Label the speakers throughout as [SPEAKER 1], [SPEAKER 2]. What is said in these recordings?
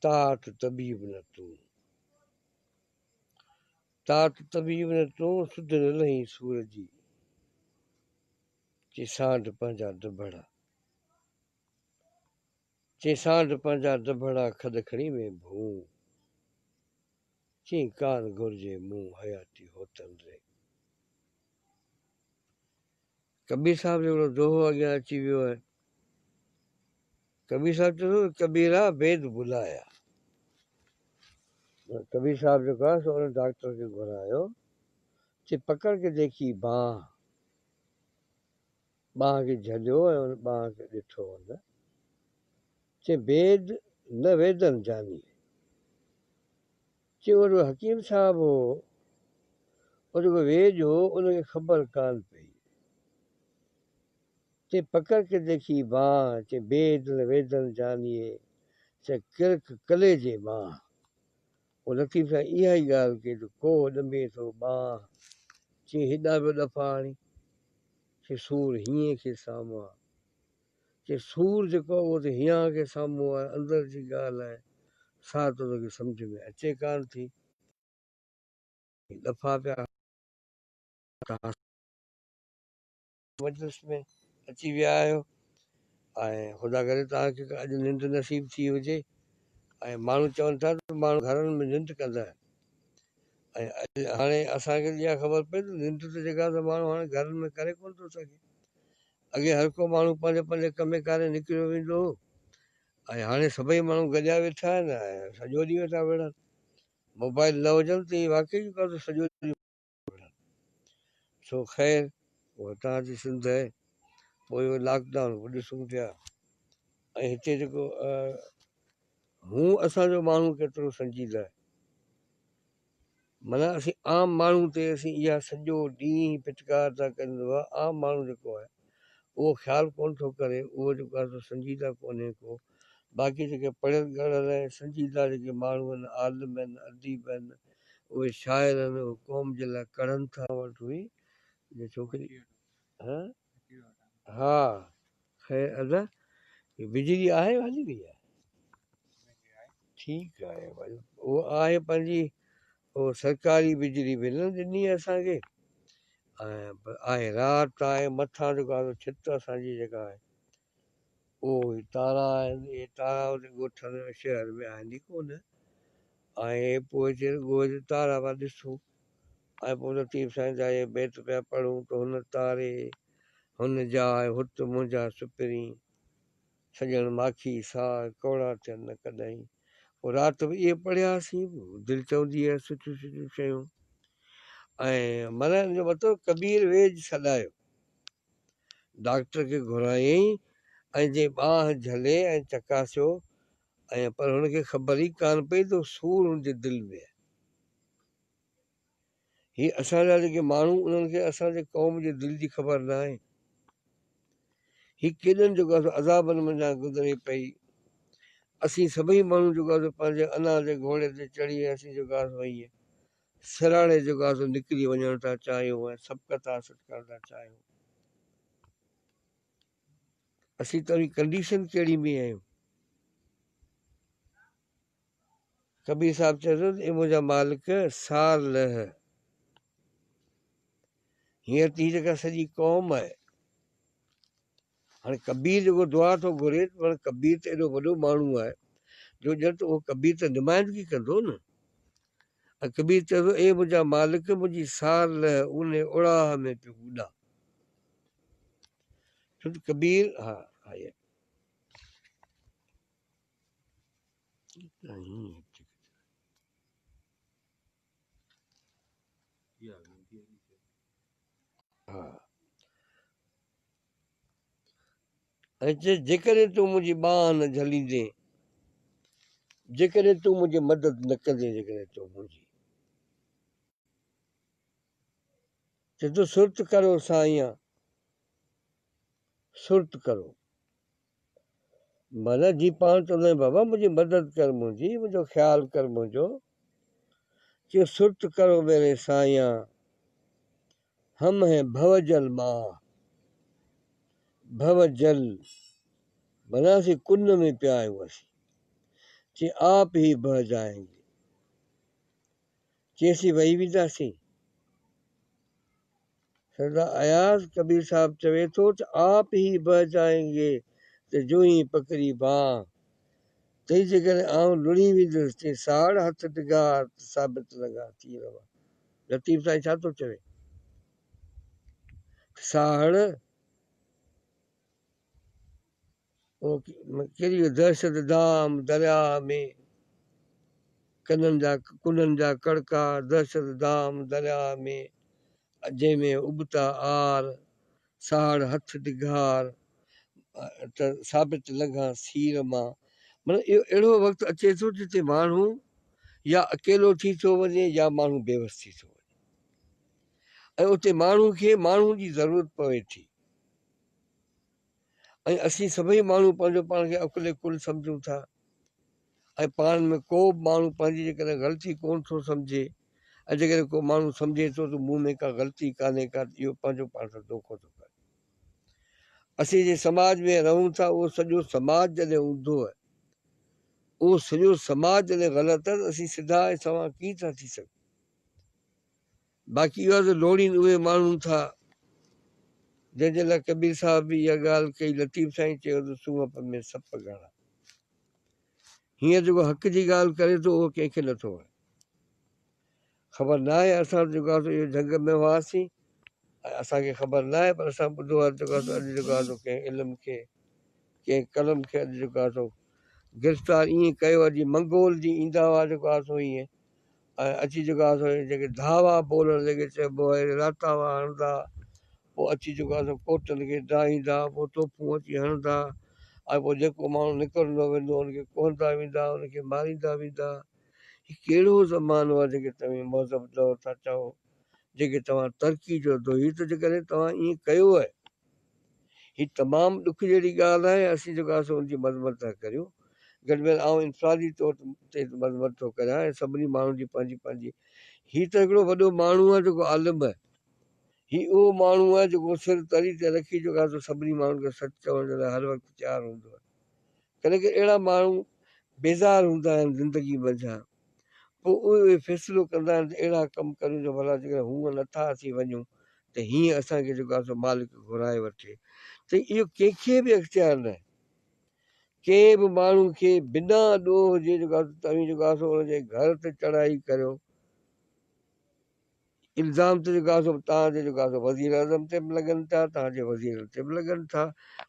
[SPEAKER 1] تات طبيب نه تون، تات طبيب نه تون، سڌ نه لهين سور جي، چي سانڍ پنهنجا دٻڙا. چئين سانڍ پنهنجا دٻهڙا کڏ کڻي مين ڀونء چئين ڪان گهرجي مون حياتي هوتن ري. ڪبير صاحب جو هڪڙو دوهو اڳيان اچي ويو آهي. ڪبير صاحب چيو اٿس ڪبيرا بيد بلايا. ڪبير صاحب جيڪو آهي سو ان ڊاڪٽر کي گهرايو چي پڪڙ ڪي ديکي بانهه. ٻانهن کي جهليو ۽ ان ٻانهن کي ڏٺو هن چين بيد نه ويدن جاني چين اهو رڳو حڪيم صاحب هو اهو رڳو ويد هو ان کي خبر ڪانه پئي چين پڪڙ کي ديکي بانهن چين بيد نه ويدن جاني چين ڪرڪ ڪليجي ٻانهن او لطيف سائين اها ئي ڳالهه ڪي ته ڪوهه ڏنڀي ٿو ٻانهه چين هيڏانهن پيو ڏڦا هڻي چين سور هينئين کي سامهون آ چين سور جيڪو آ اهو ته هيانهن کي سامهون آ اندر جي ڳالهه آهي سا ته توکي سمجهه ۾ اچي ڪانه ٿي ڏڦا پيا هڻ ته هاس مجلس ۾ اچي ويا آهيو ۽ خدا ڪري توهان کي اڄ ننڊ نصيب ٿي هجي ۽ ماڻهو چون ٿا ته ماڻهو گهرن ۾ ننڊ ڪندا آهن ۽ هاڻي اسان کي اها خبر پئي ته ننڊ ته جيڪا سا ماڻهو هاڻي گهرن ۾ ڪري ڪونه ٿو سگهي اڳي هر ڪو ماڻهو پنهنجي پنهنجي ڪمي ڪاري نڪريو ويندو هو ۽ هاڻي سڀئي ماڻهو گڏيا ويٺا آهن ۽ سڄو ڏينهن ويٺا وڙهن موبائل نه هجن ته ايئن واقعي جيڪو سو سڄو ڏينهن وڙهن. سو خير اها اتان جي سنڌ آهي. پوء اهو لاڪ ڊائون به ڏسون پيا ۽ هتي جيڪو هون اسان جو ماڻهو ڪيترو سنجيده آهي. معنيٰ اسين عام ماڻهو تي اسين اها سڄو ڏينهن پٽڪار ٿا ڪريون ته عام ماڻهو جيڪو آهي اهو خيال ڪونه ٿو ڪري اهو جيڪو آهي سو سنجيده ڪونهي ڪو باقي جيڪي پڙهيل ڳڙهيل ۽ سنجيده جيڪي ماڻهو آهن، عالم آهن، اديب آهن، اهي شاعر آهن، اهي قوم جي لاء ڪڙهن ٿا. وٽ هئي جو ڇوڪري ها ها خير ادا هي بجلي آهي يا هلي وئي آهي؟ ٺيڪ آهي ڀاء اهو آهي پنهنجي اهو سرڪاري بجلي به نه ڏني اسان کي ۽ آهي رات آهي مٿان جيڪو آهي ڇت اسان جي جيڪا آهي اهي تارا آهن، اهي تارا ان ڳوٺن ۽ شهر ۾ آهن ئي ڪونه ۽ اهي پوء جي ڳوء جي تارا پيا ڏسون ۽ پوء لطيف سائين جا اهي بيت پيا پڙهون ته هن تاري هن جاء هت منهنجا سپرين سڄڻ ماکي ساء ڪوڙا ٿين نه ڪڏهين پوء رات به اهي پڙهياسين دل چوندي هئي سٺيون سٺيون شيون ۽ ملهائڻ جو مطلب ڪبير ويڄ سڏايو ڊاڪٽر کي گهرايائين ۽ جئين ٻانهن جهلي ۽ چڪاسيو ۽ پر هن کي خبر ئي ڪانه پئي ته سور هن جي دل ۾ آهي. هي اسان جا جيڪي ماڻهو انهن کي اسان جي قوم جي دل جي خبر ناهي. هي ڪيڏن جيڪو آهي عذابن منجهان گذري پئي. اسين سڀئي ماڻهو جيڪو آهي پنهنجي انا جي گهوڙي تي چڙهي اسين جيڪو آهي ائين سرهاڻي جو غازو نڪري وڃڻ ٿا چاهيون ۽ سبقت حاصل ڪرڻ ٿا چاهيون اسين توهين ڪنڊيشن ڪهڙي ۾ آهيون کبي صاحب چيو ته اي منهنجا مالڪ سار لهه هينئر تي جيڪا سڄي قوم آهي هاڻي ڪبير جيڪو دعا ٿو گهري ته هاڻي ڪبير ته ايڏو وڏو ماڻهو آهي جو ڄڻ ته اهو ڪبير ته نمائندگي ڪندو نه ۽ ڪبير چئي ٿو اي منهنجا مالڪ منهنجي سار لهه اونهي اڙاهه ۾ پيو اڏا ڇو ته ڪبير ها ها ۽ چيس، جيڪڏهن تون منهنجي ٻانهن نه جهليندين، جيڪڏهن تون منهنجي مدد نه ڪندين، جيڪڏهن تون منهنجي. چيس ٿو، سرت ڪرو سائيان، سرت ڪرو. مھنت جي پاڻ چوندو آھيان بابا منھنجي مدد ڪر منھنجي منھنجو خيال ڪر منھنجو چيو سرت ڪرو ميري سائيان ھم ھين ڀؤ جل مان ڀؤ جل معنيٰ اسين ڪن ۾ پيا آھيون اسين چي آپ ھي بھه جائين گي چي اسين وھي وينداسين سردار اياز ڪبير صاحب چوي ٿو ته آپ هي بهه جائين گي ته جو هي پڪڙي بانهه تئي جيڪڏهن آئون لڙهي ويندس تي ساڙ هٿ ڊگها ته ثابت لنگها ٿي رهوا لطيف سائين ڇا ٿو چوي ته ساڙ ڪيڏي جو دهشت دام درياء ۾، ڪنن جا ڪنن جا ڪڙڪا دهشت دام درياء ۾، جنهن ۾ ابتا عار، ساڙ هٿ ڊگهار، ته ثابت لنگهان سير مان. معنيٰ اهو اهڙو وقت اچي ٿو جتي ماڻهو يا اڪيلو ٿي ٿو وڃي يا ماڻهو بيوس ٿي ٿو وڃي ۽ اتي ماڻهو کي ماڻهو جي ضرورت پوي ٿي. ۽ اسين سڀئي ماڻهو پنهنجو پاڻ کي عقل ڪل سمجهون ٿا ۽ پاڻ ۾ ڪو به ماڻهو پنهنجي جيڪڏهن غلطي ڪونه ٿو سمجهي ۽ جيڪڏهن ڪو ماڻهو سمجهي ٿو ته مون ۾ ڪا غلطي ڪانهي ڪا ته اهو پنهنجو پاڻ سان دوکو ٿو ڪري. اسين جنهن سماج ۾ رهون ٿا اهو سڄو سماج جڏهن اوندهو آهي اهو سڄو سماج جڏهن غلط آهي ته اسين سڌا ۽ سنئون ڪيئن ٿا ٿي سگهون. باقي اهو آهي ته لوڙين اهي ماڻهون ٿا، جنهن جي لاء ڪبير صاحب به اها ڳالهه ڪئي، لطيف سائين چيو ته سونهپ ۾ سپ گهڻا. هينئر جيڪو حق جي ڳالهه ڪري ٿو، اهو ڪنهن کي نٿو وڻي. خبر ناهي اسان جيڪو آهي سو اهو جهنگ ۾ هئاسين ۽ اسان کي خبر ناهي پر اسان ٻڌو آهي جيڪو آهي سو اڄ جيڪو آهي سو ڪنهن علم کي، ڪنهن قلم کي اڄ جيڪو آهي سو گرفتار ائين ڪيو آهي جيئن منگول جي ايندا هئا جيڪو آهي سو ائين ۽ اچي جيڪا اسان جي ڌاوا بولڻ جي کي چئبو آهي راتاوا هڻندا پوء اچي جيڪو آهي سو ڪوٽن کي ڊاهيندا پوء توپون اچي هڻندا ۽ پوء جيڪو ماڻهو نڪرندو ويندو ان کي ڪهندا ويندا ان کي ماريندا ويندا هي ڪهڙو زمانو آهي جيڪي توهين مهذب دور ٿا چئو جيڪي توهان ترقي چئو ٿو هي ته جيڪڏهن توهان ائين ڪيو آهي هي تمام ڏک جهڙي ڳالهه آهي ۽ اسين جيڪو آهيون سو ان جي مذمت ٿا ڪريون. گڏ ۾ آئون انفرادي طور تي مذمت ٿو ڪريان ۽ سڀني ماڻهن جي پنهنجي پنهنجي هي ته هڪڙو وڏو ماڻهو آهي جيڪو عالم آهي. هي اهو ماڻهو آهي جيڪو سر تري تي رکي جيڪو آهي سو سڀني ماڻهن کي سچ چوڻ جي لاء هر وقت تيار هوندو آهي. ڪڏهن ڪڏهن اهڙا ماڻهو بيزار هوندا آهن زندگي منجهان. پوء اهي فيصلو ڪندا آهن ته اهڙا ڪم ڪريون جو ڀلا جيڪڏهن هونئن نٿا اچي وڃون ته هيئن اسان کي جيڪو آهي سو مالڪ گهرائي وٺي ته اهو ڪنهن کي به اختيار ناهي ڪنهن به ماڻهو کي بنا ڏوهه جي جيڪو آهي سو توهين جيڪو آهي سو ان جي گهر تي چڙهائي ڪريو الزام ته جيڪو آهي سو توهان جو جيڪو آهي سو وزير اعظم تي به لڳن ٿا توهان جي وزيرن تي به لڳن ٿا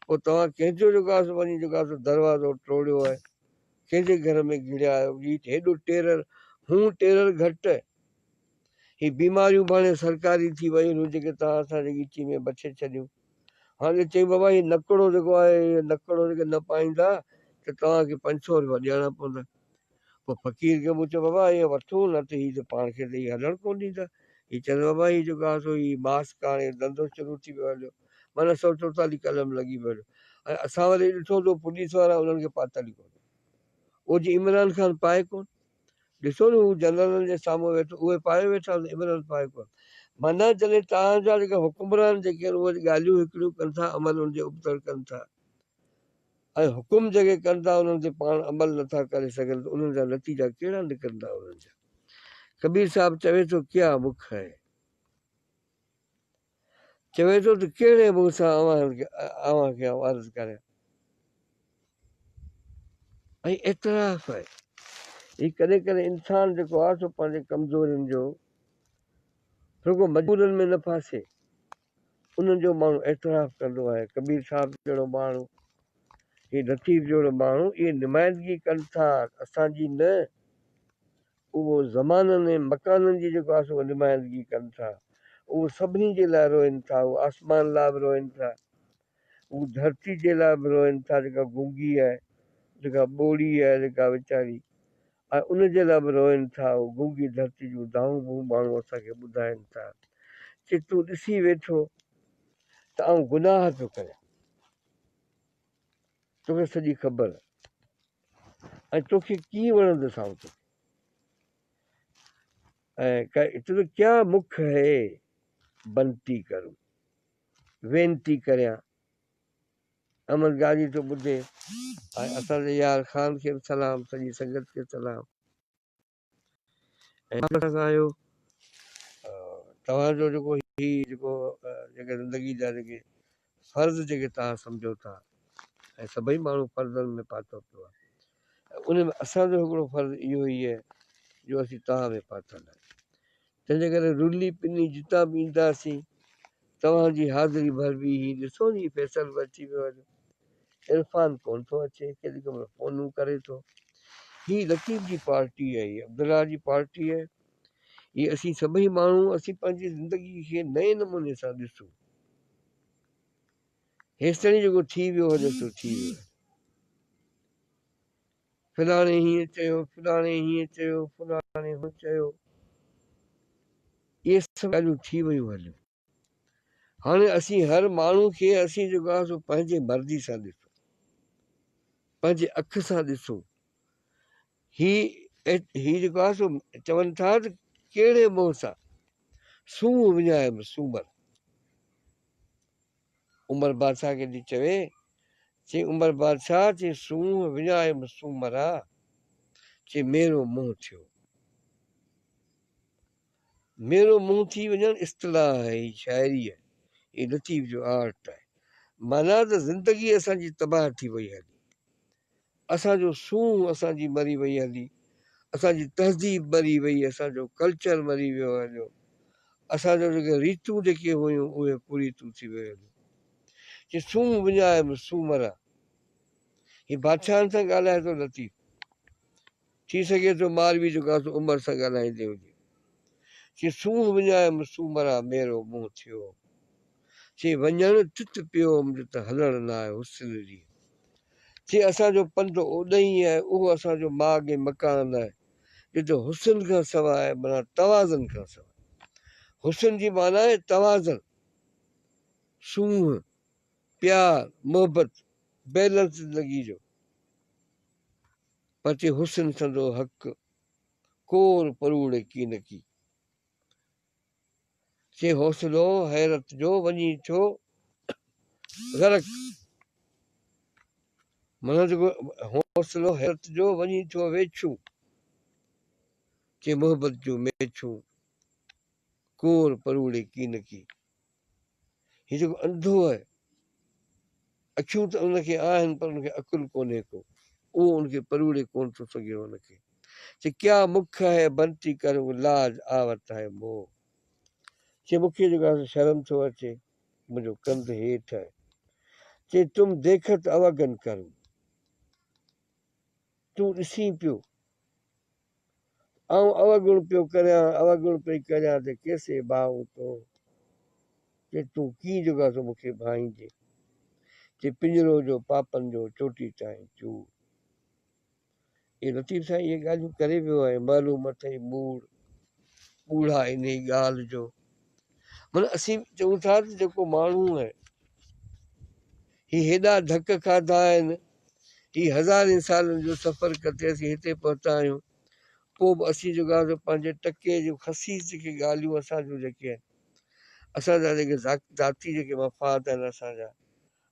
[SPEAKER 1] پوء توهان ڪنهن جو جيڪو آهي سو وڃي جيڪو آهي سو دروازو ٽوڙيو آهي ڪنهن جي گهر ۾ گهڙيا آهيو جي هيڏو ٽيرر هون ٽيرر گهٽ هي بيماريون به هاڻي سرڪاري ٿي ويون هيون جيڪي توهان اسان جي ڳچي ۾ بڇي ڇڏيون. هاڻي چيائين بابا هي نڪڙو جيڪو آهي هي نڪڙو جيڪي نه پائيندا ته توهان کي پنج سؤ روپيا ڏيڻا پوندا. پوء فقير کي مون چيو بابا ائين وٺو نه ته هي ته پاڻ کي ته هي هلڻ ڪونه ڏيندا. هي چيس بابا هي جيڪو آهي سو هي ماس ڪاڻي ڌنڌو شروع ٿي ويو هليو معنيٰ سؤ چوتالهه قلم لڳي ويو هليو ۽ اسان وري ڏٺو ته پوليس وارا انهن کي پاتل ئي ڪونه. اوجي عمران خان پائي ڪونه. ڏسو ني هو جنرلن جي سامهون ويٺو اهي پايون ويٺا آهن ابن هل پايون ڪونه معنيٰ جڏهن توهان جا جيڪي حڪمران جيڪي آهن اهي ڳالهيون هڪڙيون ڪن ٿا عمل ان جي ابتڙ ڪن ٿا ۽ حڪم جيڪي ڪن ٿا انهن تي پاڻ عمل نه ٿا ڪري سگهن ته انهن جا نتيجا ڪهڙا نڪرندا انهن جا ڪبير صاحب چوي ٿو ڪيا مک هين. چوي ٿو ته ڪهڙي منهن سان اوهان کي آئون عرض ڪريان. ۽ اعتراف آهي. هي ڪڏهن ڪڏهن انسان جيڪو آهي سو پنهنجي ڪمزورين جو رڳو مجبورين ۾ نه ڦاسي انهن جو ماڻهو اعتراف ڪندو آهي. ڪبير صاحب جهڙو ماڻهو، هي لطيف جهڙو ماڻهو اهي نمائندگي ڪن ٿا اسان جي نه. اهو زمانن ۽ مڪانن جي جيڪو آسو نمائندگي ڪن ٿا اهو سڀني جي لاء روئن ٿا هو آسمان لاء به روئن ٿا هو ڌرتي جي لاء به روئن ٿا جيڪا گونگي آهي جيڪا ٻوڙي آهي جيڪا ويچاري آهي ان جي لاء به روئن ٿا هو گونگي ڌرتي جون دانهون به هو ماڻهو اسان کي ٻڌائن ٿا چي تون ڏسي ويٺو ته آئون گناهه ٿو ڪريان. توکي سڄي خبر ۽ توکي ڪيئن وڻندو سائو توکي ۽ تنهنجو ڪيا مک هي بنتي ڪرون وينتي ڪريان امن گاڏي ٿو ٻڌي اسان جي يار خان کي سلام سڄي سنگت کي سلام ۽ مٿان کان آهيو توهان جو جيڪو هي جيڪو جيڪي زندگي جا جيڪي فرض جيڪي توهان سمجهو ٿا ۽ سڀئي ماڻهو فرضن ۾ پاتو پيو آهي ۽ ان ۾ اسان جو هڪڙو فرض اهو هي جو اسين توهان ۾ پاتل آهيون تنهن جي ڪري رلي پني جتان به اينداسين، توهان جي حاضري ڀر به هي ڏسون هي فيصل به اچي ويو آهي. عرفان ڪونه ٿو اچي، ڪيڏي ڪي مهل فونون ڪري ٿو. هي لطيف جي پارٽي آهي، هي عبدالله جي پارٽي آهي. هي اسين سڀئي ماڻهو اسين پنهنجي زندگي کي نئين نموني سان ڏسون. هيستائين جيڪو ٿي ويو هجي سو ٿي ويو آهي. فلاڻي هيئن چيو، فلاڻي هيئن چيو، فلاڻي هون چيو، اهي سڀ ڳالهيون ٿي ويون هليون. هاڻي اسين هر ماڻهو کي اسين جيڪو آهي سو پنهنجي مرضي سان ڏسو، پنهنجي اک سان ڏسو. هي هي جيڪو آهي سو چون ٿا ته ڪهڙي منهن سان سونهن وڃايم سومر. عمر بادشاهه کي ڏي چوي، چي عمر بادشاهه چي سونهن وڃايم سومرا، چي ميرو منهن ٿيو. ميرو منهن ٿي وڃڻ اصطلاح آهي، هي شاعري آهي، هي لطيف جو آرٽ آهي. معنيٰ ته زندگي اسان جي تباهه ٿي وئي هلي. اسان جو سونهن اسان جي مري وئي هلي اسان جي تهذيب مري وئي اسان جو ڪلچر مري ويو هليو اسان جو جيڪي ريتون جيڪي هيون اهي ڪريتون ٿي ويو هليو چي سونهن وڃايم سومرا هي بادشاهن سان ڳالهائي ٿو لطيف ٿي سگهي ٿو مالوي جو ڪا تو عمر سان ڳالهائيندي هجي چي سونهن وڃايم سو مران ميرو منهن ٿيو چي وڃڻ تت پيو هوم جو ته هلڻ نه آهي حسن جي چي اسان جو پنڌ اوڏهين آهي اهو اسان جو ماڳ ۽ مڪان آهي جو ته حسن کان سواء آهي معنيٰ توازن کان سواء حسن جي معنيٰ آهي توازن سونهن پيار محبت بيلنس زندگي جو. پتي حسن سندو حق، ڪور پروڙي ڪينڪي. چي حوصلو حيرت جو وڃي ٿيو غرق. منهنج حوصلو حيرت جو وڃي ٿيو ويڇون. چي محبت جون ميڇون، ڪور پروڙي ڪينڪي. هي جيڪو انڌو آهي، اکيون ته ان کي آهن پر ان کي عقل ڪونهي ڪو، اهو ان کي پروڙي ڪونه ٿو سگهيو ان کي چي ڪيا مک هي بنتي ڪرون لاج آوت هي مو چي مون کي جيڪو آهي شرم ٿو اچي منهنجو ڪنڌ هيٺ آهي چي تم ديکت اوگن ڪرون تون ڏسين پيو آئون اوگڻ پيو ڪريان، اوگڻ پئي ڪريان ته ڪيسي ڀائو تو؟ چي تون ڪيئن جوڳا ٿو مون کي ڀائينجي؟ چي پڃرو جو پاپن جو چوٽي تائين چور. اي لطيف سائين اهي ڳالهيون ڪري ويو آهي معلوم اٿئي موڙ ٻوڙها انهي ڳالهه جو من اسين چئون ٿا ته جيڪو ماڻهو آهي هي هيڏا ڌڪ کاڌا آهن هي هزارين سالن جو سفر ڪٽي اسين هتي پهتا آهيون پوء به اسين جيڪا سو پنهنجي ٽڪي جون خسيس جيڪي ڳالهيون اسان جون جيڪي آهن اسان جا جيڪي ذاتي جيڪي مفاد آهن اسان جا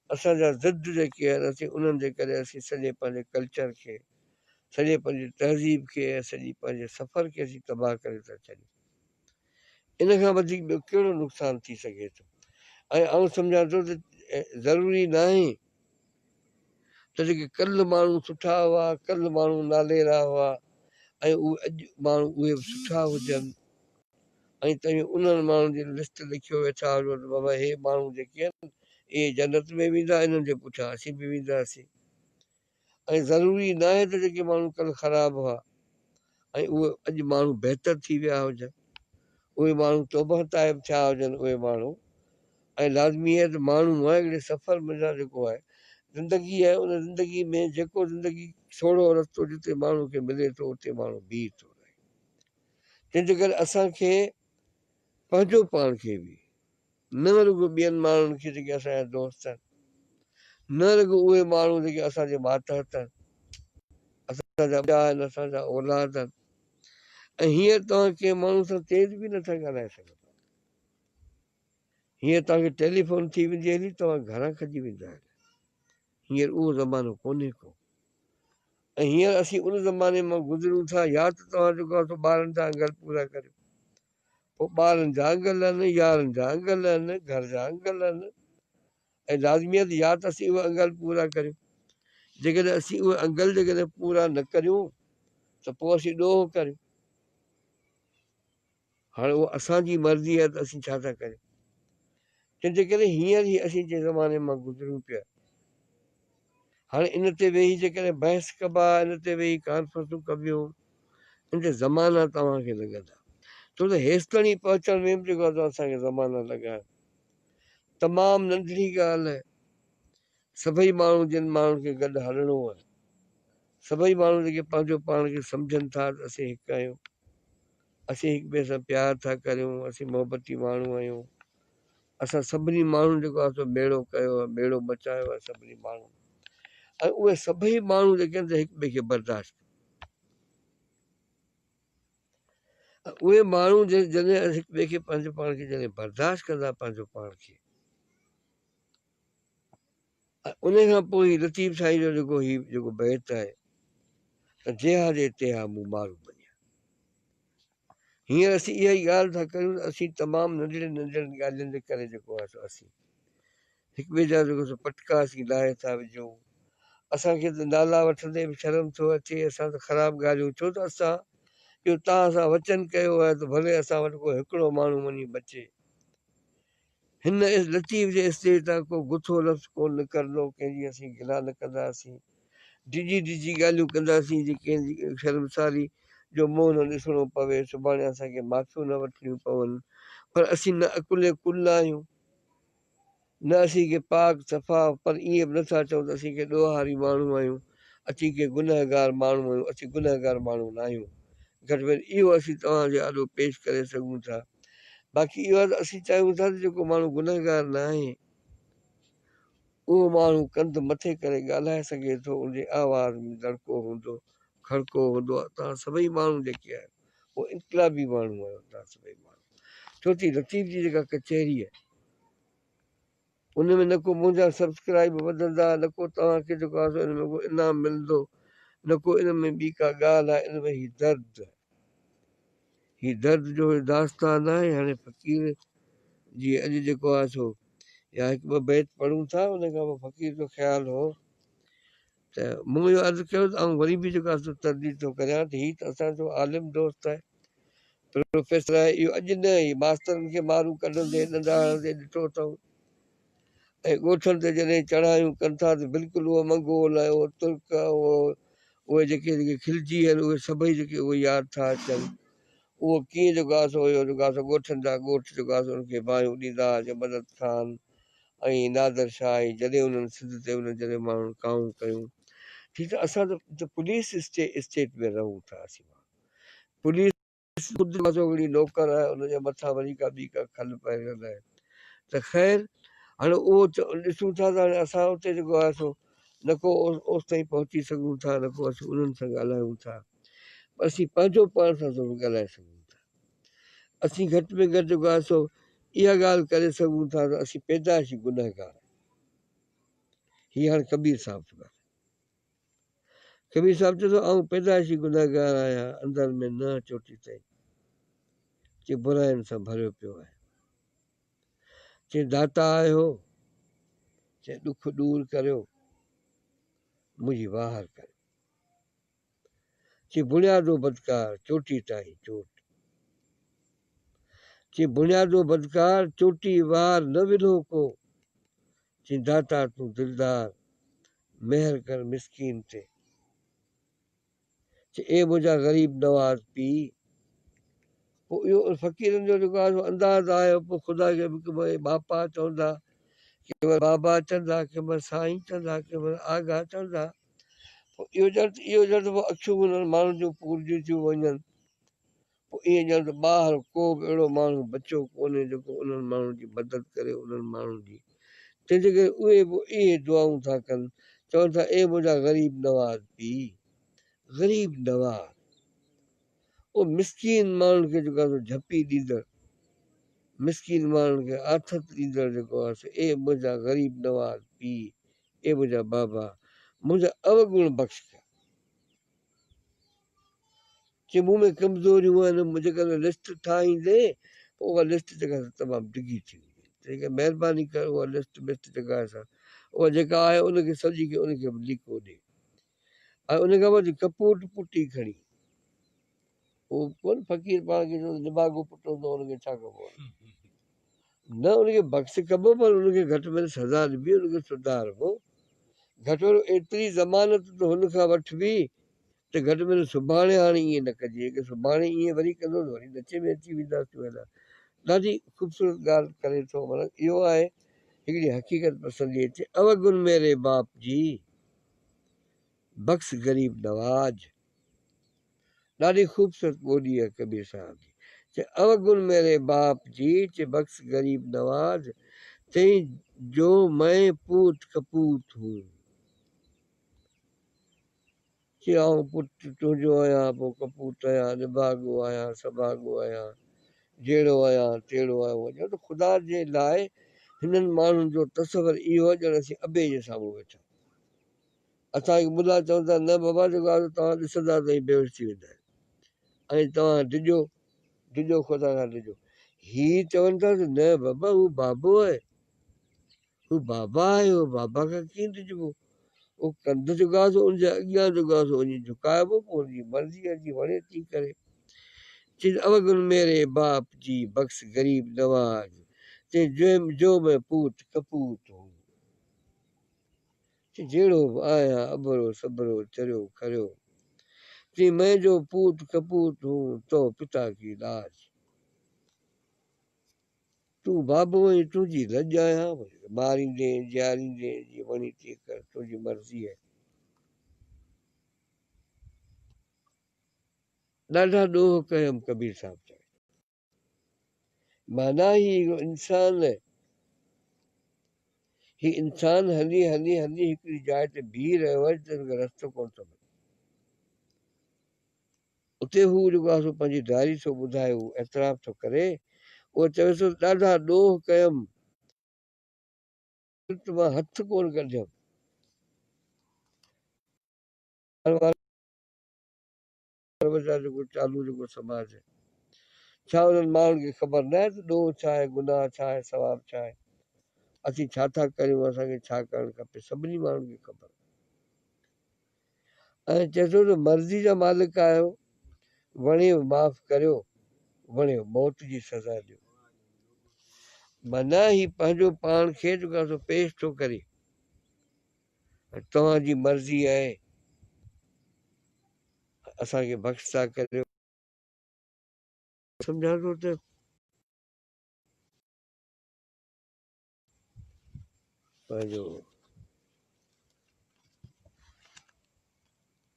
[SPEAKER 1] اسان جا ضد جيڪي آهن اسين انهن جي ڪري اسين سڄي پنهنجي ڪلچر کي سڄي پنهنجي تهذيب کي سڄي پنهنجي سفر کي اسين تباهه ڪري ٿا ڇڏيون ان کان وڌيڪ ٻيو ڪهڙو نقصان ٿي سگهي ٿو ۽ آئون سمجهان ٿو ته ضروري ناهي ته جيڪي ڪل ماڻهو سٺا هئا، ڪل ماڻهو ناليرا هئا ۽ اهي اڄ ماڻهو اهي به سٺا هجن ۽ توهين انهن ماڻهن جي لسٽ لکيو ويٺا هجو ته بابا هي ماڻهو جيڪي آهن اهي جنت ۾ ويندا انهن جي پٺيان اسين به وينداسين. ۽ ضروري ناهي ته جيڪي ماڻهو ڪل خراب هئا ۽ اهي اڄ ماڻهو بهتر ٿي ويا هجن، اهي ماڻهو توبهه تائب ٿيا هجن اهي ماڻهو ۽ لازمي آهي ته ماڻهو آهي هڪڙي سفر منجهان جيڪو آهي زندگي آهي ان زندگي ۾ جيڪو زندگي سوڙهو رستو جتي ماڻهو کي ملي ٿو اتي ماڻهو بيهي ٿو رهي تنهن جي ڪري اسان کي پنهنجو پاڻ کي به نه رڳو ٻين ماڻهن کي جيڪي اسان جا دوست آهن، نه رڳو اهي ماڻهو جيڪي اسان جي ماتحت آهن، اسان جا ٻيا آهن، اسان جا اولاد آهن ۽ هينئر توهان ڪنهن ماڻهو سان تيز به نٿا ڳالهائي سگهو. هينئر توهان کي ٽيليفون ٿي ويندي هلي توهان گهران کڄي ويندا هلي. هينئر اهو زمانو ڪونهي ڪو ۽ هينئر اسين ان زماني مان گذرون ٿا يا ته توهان جيڪو آهي سو ٻارن جا انگل پورا ڪريو پوء ٻارن جا انگل ان، يارن جا انگل ان، گهر جا انگل ان ۽ لازمي آهي ته يا ته اسين اهي انگل پورا ڪريون. جيڪڏهن اسين اهي انگل جيڪڏهن پورا نه ڪريون ته پوء اسين ڏوهه ڪريون. هاڻي اها اسان جي مرضي آهي ته اسين ڇا ٿا ڪريون. تنهن جي ڪري هينئر ئي اسين جنهن زماني مان گذريون پيا، هاڻي ان تي ويهي جيڪڏهن بحث ڪبا، ان تي ويهي ڪانفرنسون ڪبيون، ان تي زمانا توهان کي لڳندا. ڇو ته هيستائين پهچڻ ۾ به جيڪو آهي سو اسان کي زمانا لڳا آهن. تمام ننڍڙي ڳالهه آهي. سڀئي ماڻهو جن ماڻهن کي گڏ هلڻو آهي، سڀئي ماڻهو جيڪي پنهنجو پاڻ کي سمجهن ٿا ته اسين هڪ آهيون، اسين هڪ ٻئي سان پيار ٿا ڪريون، اسين محبتي ماڻهو آهيون، اسان سڀني ماڻهن جيڪو آهي سو ٻيڙو ڪيو آهي، ٻيڙو بچايو آهي سڀني ماڻهن ۽ اهي سڀئي ماڻهو جيڪي آهن سي هڪ ٻئي کي برداشت ڪن ۽ اهي ماڻهو جڏهن هڪ ٻئي کي پنهنجو پاڻ کي جڏهن برداشت ڪندا پنهنجو پاڻ کي. انهيء کان پوء هي لطيف سائين جو جيڪو هي جيڪو بيت آهي ته جيها جي تيها مون مارو مڃيا. هينئر اسين اها ئي ڳالهه ٿا ڪريون ته اسين تمام ننڍڙين ننڍڙين ڳالهين جي ڪري جيڪو آهي سو اسين هڪ ٻئي جا جيڪو سو پٽڪا اسين لاهي ٿا وجهون. اسان کي ته نالا وٺندي به شرم ٿو اچي، اسان ته خراب ڳالهيون ڇو ته اسان اهو تان سان وچن ڪيو آهي ته ڀلي اسان وٽ ڪو هڪڙو ماڻهو وڃي بچي. هن لطيف جي اسٽيج تان ڪو گٿو لفظ ڪونه نڪرندو، ڪنهن جي اسين گلا نه ڪنداسين، ڊڄي ڊڄي ڳالهيون ڪنداسين، جي ڪنهن جي شرمساري جو منهن نه ڏسڻو پوي، سڀاڻي اسان کي معافيون نه وٺڻيون پون، پر اسين نه عقلين ڪل آهيون، نه اسين ڪي پاڪ صفا، پر ائين به نٿا چئون ته اسين ڪي ڏوهاري ماڻهو آهيون، اسين ڪي گنهگار ماڻهو آهيون، اسين گنهگار ماڻهو ناهيون، گهٽ ۾ گهٽ اهو اسين توهان جي آڏو پيش ڪري سگهون ٿا. باقي اهو آهي ته اسين چاهيون ٿا ته جيڪو ماڻهو گنهگار ناهي اهو ماڻهو ڪنڌ مٿي ڪري ڳالهائي سگهي ٿو ان جي آواز ۾ دڙڪو هوندو کڙڪو هوندو آهي توهان سڀئي ماڻهو جيڪي آهيو اهو انقلابي ماڻهو آهيو توهان سڀئي ماڻهو ڇو ٿي لطيف جي جيڪا ڪچهري آهي ان ۾ نه ڪو منهنجا سبسڪرائيب وڌندا نه ڪو توهان کي جيڪو آهي سو ان ۾ ڪو انعام ملندو نه ڪو ان ۾ ٻي ڪا ڳالهه آهي ان ۾ هي درد هي درد جو هي داستان ناهي هاڻي فقير جي اڄ جيڪو آهي سو يا هڪ ٻه بيت پڙهون ٿا ان کان پوء فقير جو خيال هو ته مون اهو عرض ڪيو ته آئون وري به جيڪو آهي سو ترديد ٿو ڪريان ته هي ته اسان جو عالم دوست آهي، پروفيسر آهي، اهو اڄ نه هي ماسترن کي مارون ڪڍندي، ڏنڊا هڻندي ڏٺو اٿئون ۽ ڳوٺن تي جڏهن چڙهايون ڪن ٿا ته بلڪل اهو منگول ۽ اهو ترڪ اهو اهي جيڪي جيڪي خلجي آهن اهي سڀئي جيڪي اهو ياد ٿا اچن اهو ڪيئن جيڪو آهي سو اهو جيڪو آهي سو ڳوٺن جا ڳوٺ جيڪو آهي سو ان کي باهيون ڏيندا هئا جي مدد خان ۽ نادر شاهه ۽ جڏهن انهن سنڌ تي انهن جڏهن ماڻهن ڪاهون ڪيون ٺيڪ آهي اسان ته پوليس اسٽيٽ ۾ رهون ٿا اسين پوليس خود مزوڙي نوڪر آهي ان جي مٿان وري ڪا ٻي ڪا کل پهريل آهي ته خير هاڻي اهو ڏسون ٿا ته هاڻي اسان اتي جيڪو آهي سو نه ڪو اوس تائين پهچي سگهون ٿا نه ڪو اسين انهن سان ڳالهايون ٿا اسين پنهنجو پاڻ سان ضرور ڳالهائي سگهون ٿا اسين گهٽ ۾ گهٽ جيڪو آهي سو اها ڳالهه ڪري سگهون ٿا ته اسين پيدائشي گنهگار آهيون هي هاڻ ڪبير صاحب ٿو ڳالهائي ڪبير صاحب چوي ٿو آئون پيدائشي گنهگار آهيان اندر ۾ نه چوٽي تائين چي براين سان ڀريو پيو آهي چي داتا آهيو چي ڏک ڏور ڪريو منهنجي واهر ڪريو چي بڻيادو بدڪار چوٽي تائين چوٽ. چي بڻيادو بدڪار چوٽي وار نه ولهو ڪو. چي داتا تون دلدار مهر ڪر مسڪين تي. چي اي منهنجا غريب نواز پيء. پوء اهو فقيرن جو جيڪو آهي سو انداز آهي پوء خدا کي به ڪنهن مهل ٻاپا چوندا ڪنهن مهل بابا چوندا ڪنهن مهل سائين چوندا ڪنهن مهل آغا چوندا پوء اهو ڄڻ ته اهو ڄڻ ته پوء اکيون به انهن ماڻهن جون پورجيون ٿيون وڃن. پوء ائين ڄڻ ته ٻاهر ڪو به اهڙو ماڻهو بچيو ڪونهي جيڪو انهن ماڻهن جي مدد ڪري انهن ماڻهن جي. تنهن جي ڪري اهي به اهي دعائون ٿا ڪن، چون ٿا اي منهنجا غريب نواز پيء. غريب نواز. اهو مسڪين ماڻهن کي جيڪو آهي سو جهپي ڏيندڙ، مسڪين ماڻهن کي آٿت ڏيندڙ جيڪو آهي سو اي منهنجا غريب نواز پيء. اي منهنجا بابا منهنجا اوگڻ بخش ڪيا. جي مون ۾ ڪمزوريون آهن جيڪڏهن لسٽ ٺاهيندي پوء اها لسٽ جيڪا سا تمام ڊگهي ٿي ويندي تنهن ڪري مهرباني ڪر اها لسٽ بسٽ جيڪا آهي سا اها جيڪا آهي ان کي سڄي کي ان کي به ليڪو ڏي ۽ ان کان پوء ڪپوٽ پٽي کڻي اهو ڪونه فقير پاڻ کي چوندو نڀاڳو پٽ هوندو آهي ان کي ڇا ڪبو آهي نه ان کي بخش ڪبو پر ان کي گهٽ ۾ گهٽ سزا ڏبي ان کي سڌاربو گهٽ ۾ گهٽ ايتري ضمانت ته هن کان وٺبي ته گهٽ ۾ گهٽ سڀاڻي هاڻي ائين نه ڪجي اگر سڀاڻي ائين وري ڪندو ته وري نچي ۾ اچي وينداسون هيڏانهن ڏاڍي خوبصورت ڳالهه ڪري ٿو مطلب اهو آهي هڪڙي حقيقت پسندي اچي اوگن ميري باپ جي بخش غريب نواز ڏاڍي خوبصورت ٻولي آ ڪبير صاحب جي چي اوگڻ ميري باپ جي چي بخش غريب نواز تين جو مئين پوت ڪپوت هون چي آئون پٽ تنهنجو آهيان پوء ڪپوت آهيان نڀاڳو آهيان سڀاڳو آهيان جهڙو آهيان تهڙو آهيان وڃو ته خدا جي لاء هنن ماڻهن جو تصور اهو آهي ڄڻ اسين ابي جي سامهون ويٺا اسان کي ٻڌا چون ٿا نه بابا جيڪو آيو توهان ڏسندا ته ائين بيهوش ٿي ويندا ۽ توهان ڊڄو ڊڄو خدا کان ڊڄو هي چون ٿا ته نه بابا هو بابو آهي هو بابا آهي هو بابا کان ڪيئن ڊڄبو او ڪنڌ جو گاس ان جي اڳيان جو گاس وڃي جھڪائبو پوء ان جي مرضي آهي جي وڻي تي ڪري چين اوگن ميري باپ جي بخش غريب نواز چين جو جو ۾ پوت کپوت هو جهڙو به آهيان اڀرو سڀرو چريو کريو تين مئن جو پوٽ ڪپوت هون تو پتا ڪي لاج تون بابو ۽ تنهنجي لڄ آهيان ماريندين جياريندين جي وڻي تي ڪر تنهنجي مرضي آهي ڏاڍا ڏوهه ڪيم ڪبير صاحب چوي ٿو. معنيٰ هي انسان هي انسان هلي هلي هلي هڪڙي جاء تي بيهي رهيو آهي جتي هن کي رستو ڪونه ٿو ملي. اتي هو جيڪو آهي سو پنهنجي دائري ٿو ٻڌائي هو اعتراف ٿو ڪري هو چوي ٿو ڏاڍا ڏوهه ڪيم ڪرت مان هٿ ڪونه ڪڍيم عرب جا جيڪو چالو جيڪو سماج آهي ڇا انهن ماڻهن کي خبر نه آهي ته ڏوهه ڇا آهي گناهه ڇا آهي ثواب ڇا آهي اسين ڇا ٿا ڪريون اسان کي ڇا ڪرڻ کپي سڀني ماڻهن کي خبر ۽ چئي ٿو ته مرضي جا مالڪ آهيو وڻيو معاف ڪريو وڻيو موت جي سزا ڏيو معنيٰ هي پنهنجو پاڻ کي جيڪو سو پيش ٿو ڪري توهان جي مرضي آهي اسان کي بخش ٿا ڪريو. سمجهان ٿو ته پنهنجو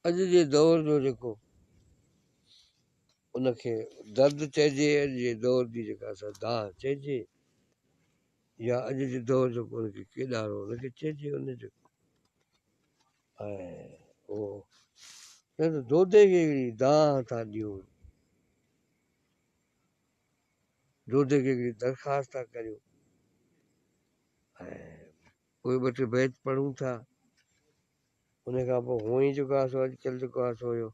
[SPEAKER 1] اڄ جي دور جو جيڪو ان کي درد چئجي اڄ جي دور جي جيڪا سا داهه چئجي يا اڄ جي دور جو ان کي ڪيڏارو ان کي چئجي ان جو ۽ او چئن ته دودي کي هڪڙي دانهن ٿا ڏيون دودي کي هڪڙي درخواست ٿا ڪريون ۽ پوء ٻه ٽي بيت پڙهون ٿا ان کان پوء هونء ئي جيڪو آسو اڄڪلهه جيڪو آسو اهو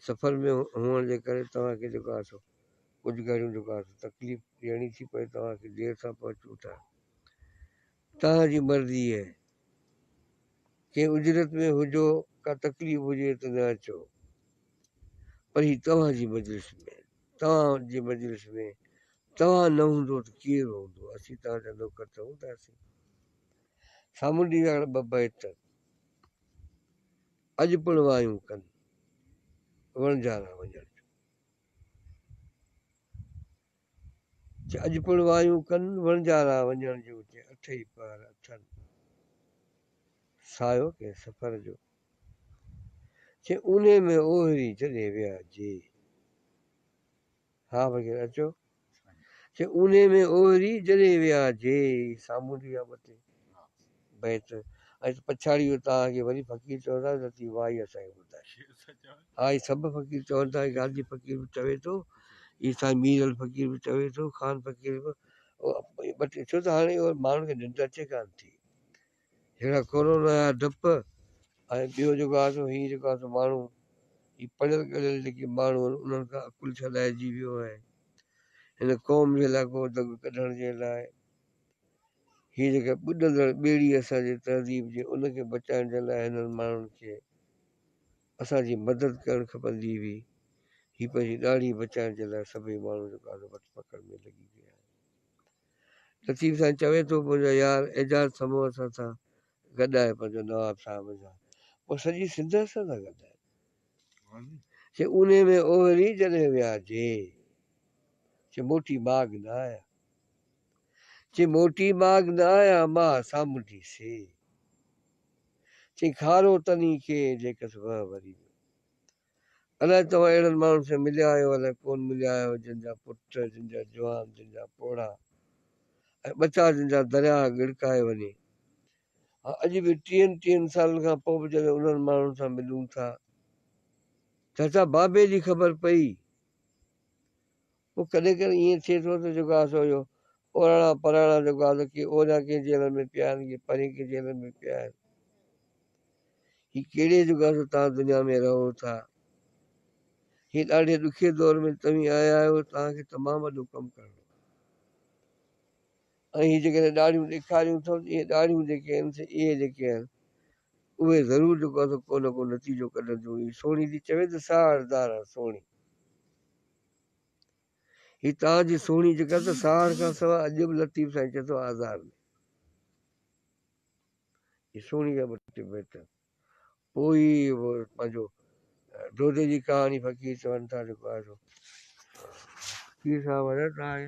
[SPEAKER 1] سفر ۾ هئڻ جي ڪري توهان کي جيڪو آسو ڪجهه گهڙيون جيڪو آسو تڪليف ڏيڻي ٿي پوي توهان کي دير سان پهچون ٿا توهان جي مرضي اهي ڪنهن اجرت ۾ هجو ڪا تڪليف هجي ته نه اچو پر هي توهان جي مجلس ۾ توهان جي مجلس ۾ توهان نه هوندو ته ڪير هوندو اسين توهان جا نوڪر ته هونداسين سامونڊي ويهڻ ٻه بيت اڄ پڻ وايون ڪن وڻجارا وڃڻ جو اڄ پڻ وايون ڪن وڻجارا وڃڻ جو چي اٺئي پهر اٿن سايو ڪي سفر جو چي اونهي ۾ اوهري جڏهن ويا جي ها وغيره اچو چي اونهي ۾ اوري جڏهن ويا جي سامونڊي يا ٻٽي بيت ۽ پڇاڙي اتان اڳي وري فقير چوندا آهن لطيف واء هي اسان کي ٻڌاء ها هي سڀ فقير چون ٿا غازي فقير به چوي ٿو هي سائين مير علي فقير به چوي ٿو خان فقير به ٻٽي ڇو ته هاڻي ماڻهن کي ننڊ اچي ڪانه ٿي جهڙا ڪورونا جا ڊپ ۽ ٻيو جيڪو آهي سو هي جيڪو آهي سو ماڻهو هي پڙهيل ڳڙهيل جيڪي ماڻهو آهن انهن کان عقل ڇڏائجي ويو آهي هن قوم جي لاء ڪو دڳ ڪڍڻ جي لاء هي جيڪا ٻڏندڙ ٻيڙي اسان جي تهذيب جي ان کي بچائڻ جي لاء هنن ماڻهن کي اسان جي مدد ڪرڻ کپندي هئي هي پنهنجي ڏاڙهي بچائڻ جي لاء سڀئي ماڻهو جيڪو آهي سو وٺ پڪڙ ۾ لڳي پيا آهن لطيف سائين چوي ٿو منهنجا يار اعجاز سمون اسان سان گڏ آهي پنهنجو نواب صاحب سان پوء سڄي سنڌ اسان سان گڏ آهي چي اونهي ۾ اوهري جڏهن ويا جي چي موٽي ماڳ نه آيا چي موٽي ماڳ نه آيا ما سامونڊي سي چي کارو تني کي جيڪس وهه وري الائي توهان اهڙن ماڻهن سان مليا آهيو الائي ڪونه مليا آهيو جن جا پٽ، جن جا جوان، جن جا پوڙها ۽ ٻچا جن جا درياء ڳڙڪائي وڃي. ها اڄ به ٽيهن ٽيهن سالن کان پوء به جڏهن انهن ماڻهن سان ملون ٿا چاچا بابي جي خبر پئي پوء ڪڏهن ڪڏهن ائين ٿئي ٿو ته جيڪو آسو اهو اوراڻا پراڻا جيڪو آهي سو ڪي اوريان ڪنهن جيلن ۾ پيا آهن ڪي پرين ڪنهن جيلن ۾ پيا آهن هي ڪهڙي جيڪو آهي سو توهان دنيا ۾ رهو ٿا هي ڏاڍي ڏکي دور ۾ توهين آيا آهيو توهان کي تمام وڏو ڪم ڪرڻو ۽ هي جيڪڏهن ڏاڙهيون ڏيکاريون اٿم ته اهي ڏاڙهيون جيڪي آهن سي اهي جيڪي آهن اهي ضرور جيڪو آهي سو ڪو نه ڪو نتيجو ڪڍنديون هي سهڻي ٿي چوي ته ساهڙ دارا سهڻي هي تاء جي سهڻي جيڪا ته ساهڙ کان سواء اڄ به لطيف سائين چئي ٿو آزار ۾ هي سهڻي جا ٻه ٽي بيت پوء ئي پنهنجو دودي جي ڪهاڻي فقير چون ٿا جيڪو آهي سو فقير صاحب حضرت آهي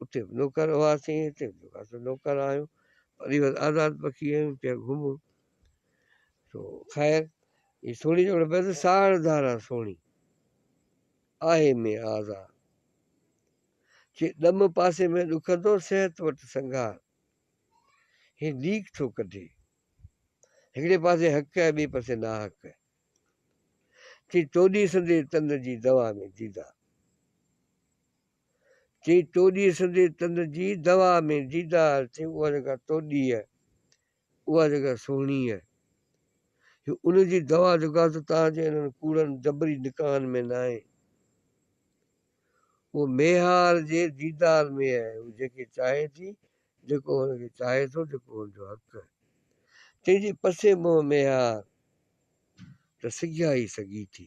[SPEAKER 1] اتي به نوڪر هئاسين هتي به جيڪو سو نوڪر آهيون وري وري آزاد پکي آهيون پيا گهمون سو خير هي سهڻي جوڙ بس ساڙ ڌارا سهڻي آهي مين آزاد چي ڏم پاسي ۾ ڏکندو صحت وٽ سنگار هي ليڪ ٿو ڪڍي هڪڙي پاسي حق ۽ ٻئي پاسي ناحق چي توڏي سندي تن جي دوا ۾ ديدا چيئي توڏيء سندي تن جي دوا ۾ ديدار ٿئي اها جيڪا توڏيء اها جيڪا سهڻيء هي ان جي دوا جيڪا ته توهان جي انهن ڪوڙن جبري نڪاحن ۾ ناهي اهو ميهار جي ديدار ۾ آهي هو جيڪي چاهي ٿي جيڪو هن کي چاهي ٿو جيڪو هن جو حق آهي تنهن جي پسي منهن ميهار ته سگهيا ئي سگهي ٿي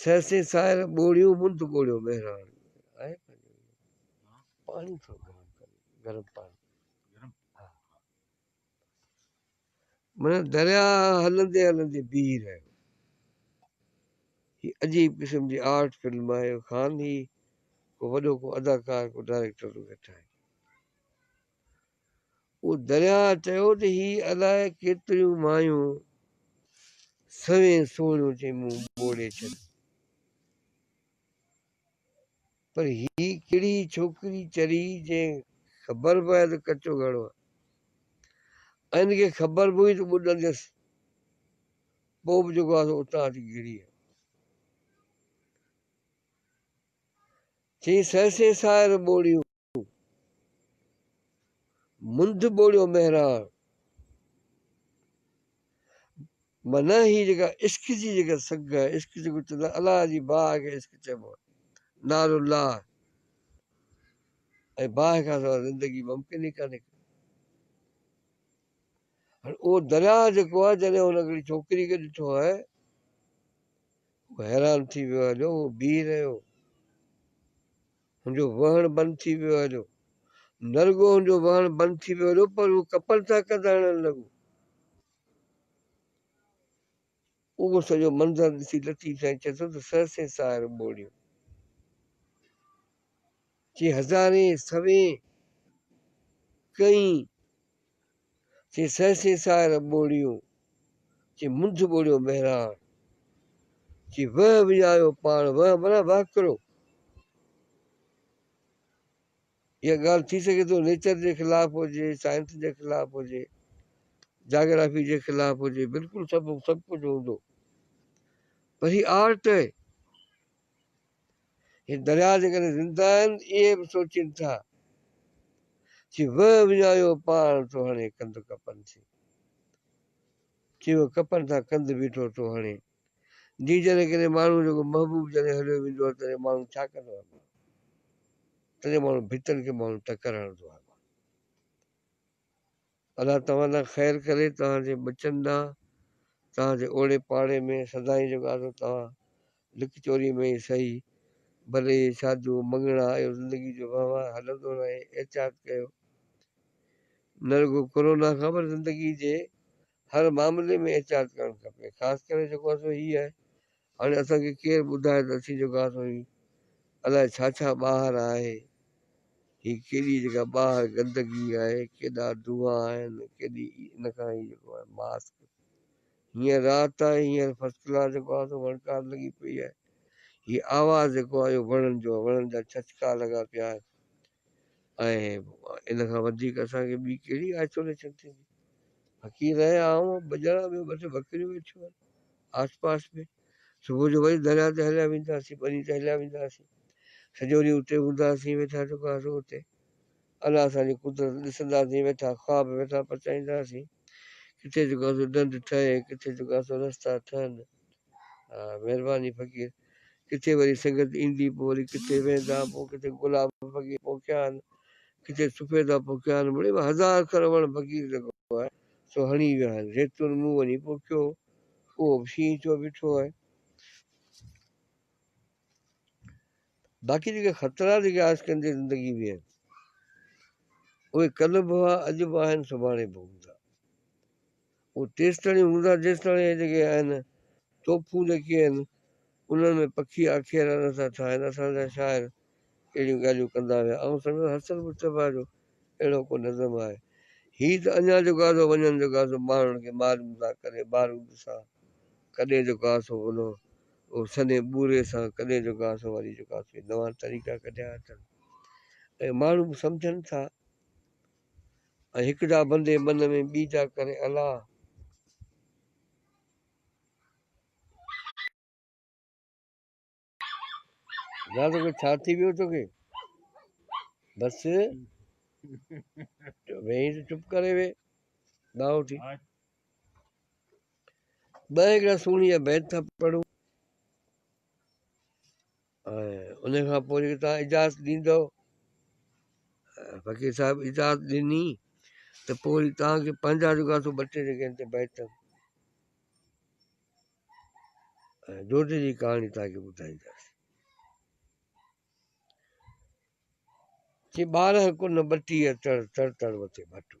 [SPEAKER 1] سهسين ساحل ٻوڙيون منڌ ٻوڙيو مهراڻ معنيٰ دريا هلندي هلندي بيهي رهيو هي عجيب قسم جي آرٽ فلم آهي خان هي ڪو وڏو ڪو اداڪار ڪو ڊائريڪٽر ٿو ويٺائي او درياء چيو ته هي الائي ڪيتريون مايون سوين سوڙهيون تي مون ٻوڙي ڇڏيون پر هي ڪهڙي ڇوڪري چري جنهن خبر به آهي ته ڪچو گهڙو آهي ۽ ان کي خبر به هئي ته ٻڏنديس پوء به جيڪو آهي اتان اچي گهڙي آيو چي سهسين ساحر ٻوڙيون ڪيو. منڌ ٻوڙيو مهراڻ معنيٰ هي جيڪا عشق جي جيڪا سگهه آهي عشق جيڪو چوندو آهي الله جي باهه کي عشق چئبو آهي نار الله ۽ باهه کان سواء زندگي ممڪن ئي ڪانهي ڪا هاڻي اهو درياء جيڪو آهي جڏهن هن هڪڙي ڇوڪري کي ڏٺو آهي هو حيران ٿي ويو آهي جو هو بيهي رهيو هن جو وهڻ بند ٿي ويو هليو. نه رڳو هن جو وهڻ بند ٿي ويو هليو پر هو ڪپن سان ڪنڌ هڻڻ لڳو. اهو سڄو منظر ڏسي لطيف سائين چئي ٿو ته سرسين ساهر ٻوڙيو. چي هزارين سوين ڪئين سي سهسي سار ٻوڙيو، چي منجھ ٻوڙيو مهراڻ، چي وهه وڃايو پاڻ، وهه معنيٰ وهڪرو. اها ڳالهه ٿي سگهي ٿو نيچر جي خلاف هجي، سائنس جي خلاف هجي، جاگرافي جي خلاف هجي، بلڪل سڀ سڀ ڪجهه هوندو پر هي آرٽ آهي. هي درياء جيڪڏهن زنده آهن اهي به سوچين ٿا چي وهه وڃايو پاڻ ٿو هڻي ڪنڌ ڪپن سين چي وهه ڪپن ٿا ڪنڌ بيٺو ٿو هڻي جي جڏهن ڪڏهن ماڻهو جيڪو محبوب جڏهن هليو ويندو آهي تڏهن ماڻهو ڇا ڪندو آهي تڏهن ماڻهو ڀتن کي ماڻهو ٽڪر هڻندو آهي الله توهان ڏانهن خير ڪري، توهان جي ٻچن ڏانهن، توهان جي اوڙي پاڙي ۾ سدائين جو گادو توهان لڪ چوري ۾ ئي سهي، بل اهي شاديون، مڱڻا، اهو زندگي جو وهنوار هلندو رهي، احتياط ڪيو. نه رڳو ڪورونا کان پر زندگي جي هر معاملي ۾ احتياط ڪرڻ کپي، خاص ڪري جيڪو اصل هي آهي هاڻي اسان کي ڪير ٻڌائي ته اسين جيڪو آسان هي الاء ڇا ڇا ٻاهر آهي هي ڪيڏي جيڪا ٻاهر گندگي آهي ڪيڏا دونها آهن ڪيڏي ان کان هي جيڪو آهي ماسڪ هينئر رات آهي هينئر فرسٽ ڪلاس جيڪو آهي سو وڻڪار لڳي پئي آهي هي آواز جيڪو آهي اهو وڻن جو آهي وڻن جا ڇچڪا لڳا پيا آهن ۽ ان کان وڌيڪ اسان کي ٻي ڪهڙي آئسوليشن ٿيندي. فقير رهيا آئون ۽ ٻجهڙا ٻيو ٻه ٽي ٻڪريون ويٺيون آهن آس پاس ۾. صبح جو وري درياء تي هليا ويندا هئاسين، ٻني تي هليا ويندا هئاسين. سڄو ڏينهن اتي هوندا هئاسين، ويٺا ٺڪ هئاسين اتي. الله اسان جي قدرت ڏسندا هئاسين، ويٺا خواب ويٺا پچائيندا هئاسين. ڪٿي جيڪو آهي سو ڍنڍ ٺهي، ڪٿي جيڪو آهي سو رستا ٺهن. مھرباني فقير ڪٿي وري سنگت ايندي پوء وري ڪٿي ويندا پوء ڪٿي گلاب فقير پوکيا آھن ڪٿي سفيدا پوکيا آھن مڙئي مان ھزار سر وڻ فقير لڳو آھي سو ھڻي ويا آھن زيتون مون وڃي پوکيو ھو اھو به شينھن ٿيو بيٺو آھي باقي جيڪي خطرا جيڪي آھس ڪندي زندگي ۾ آھن اھي ڪلھ به ھئا اڄ به آھن سڀاڻي به ھوندا هو تيستائين هوندا جيستائين اهي جيڪي آهن توپون جيڪي آهن انهن ۾ پکي آکيرا نه ٿا ٺاهن اسان جا شاعر اهڙيون ڳالهيون ڪندا هيا آئون سمجهان حسن مصطفيٰ جو اهڙو ڪو نظم آهي هي ته اڃا جو گازو وڃن جو گازو ٻانهڻ کي مارون ٿا ڪڏهن بارود سان ڪڏهن جو گاسو انهو او سنهي ٻوري سان ڪڏهن جو گاسو وري جو گاسو هي نوان طريقا ڪڍيا اٿن ۽ ماڻهو به سمجهن ٿا. ۽ هڪ جا بندي بن ۾ ٻي جا ڪري الله. يا تو کي ڇا ٿي ويو تو کي بس ويهي ته چپ ڪري وي ٻاهو ٿي ٻه هڪڙا سوني جا بيت ٿا پڙهون ان کان پوء جيڪي توهان اجازت ڏيندؤ فقير صاحب اجازت ڏني ته پوء وري توهانکي پنهنجا جيڪا سو ٻه ٽي جيڪي هن تي بيت جوتي جي ڪهاڻي توهانکي ٻڌائينداسين چي ٻارهن ڪن ٻٽيهه تڙ تڙ تڙ وتي ڀٽو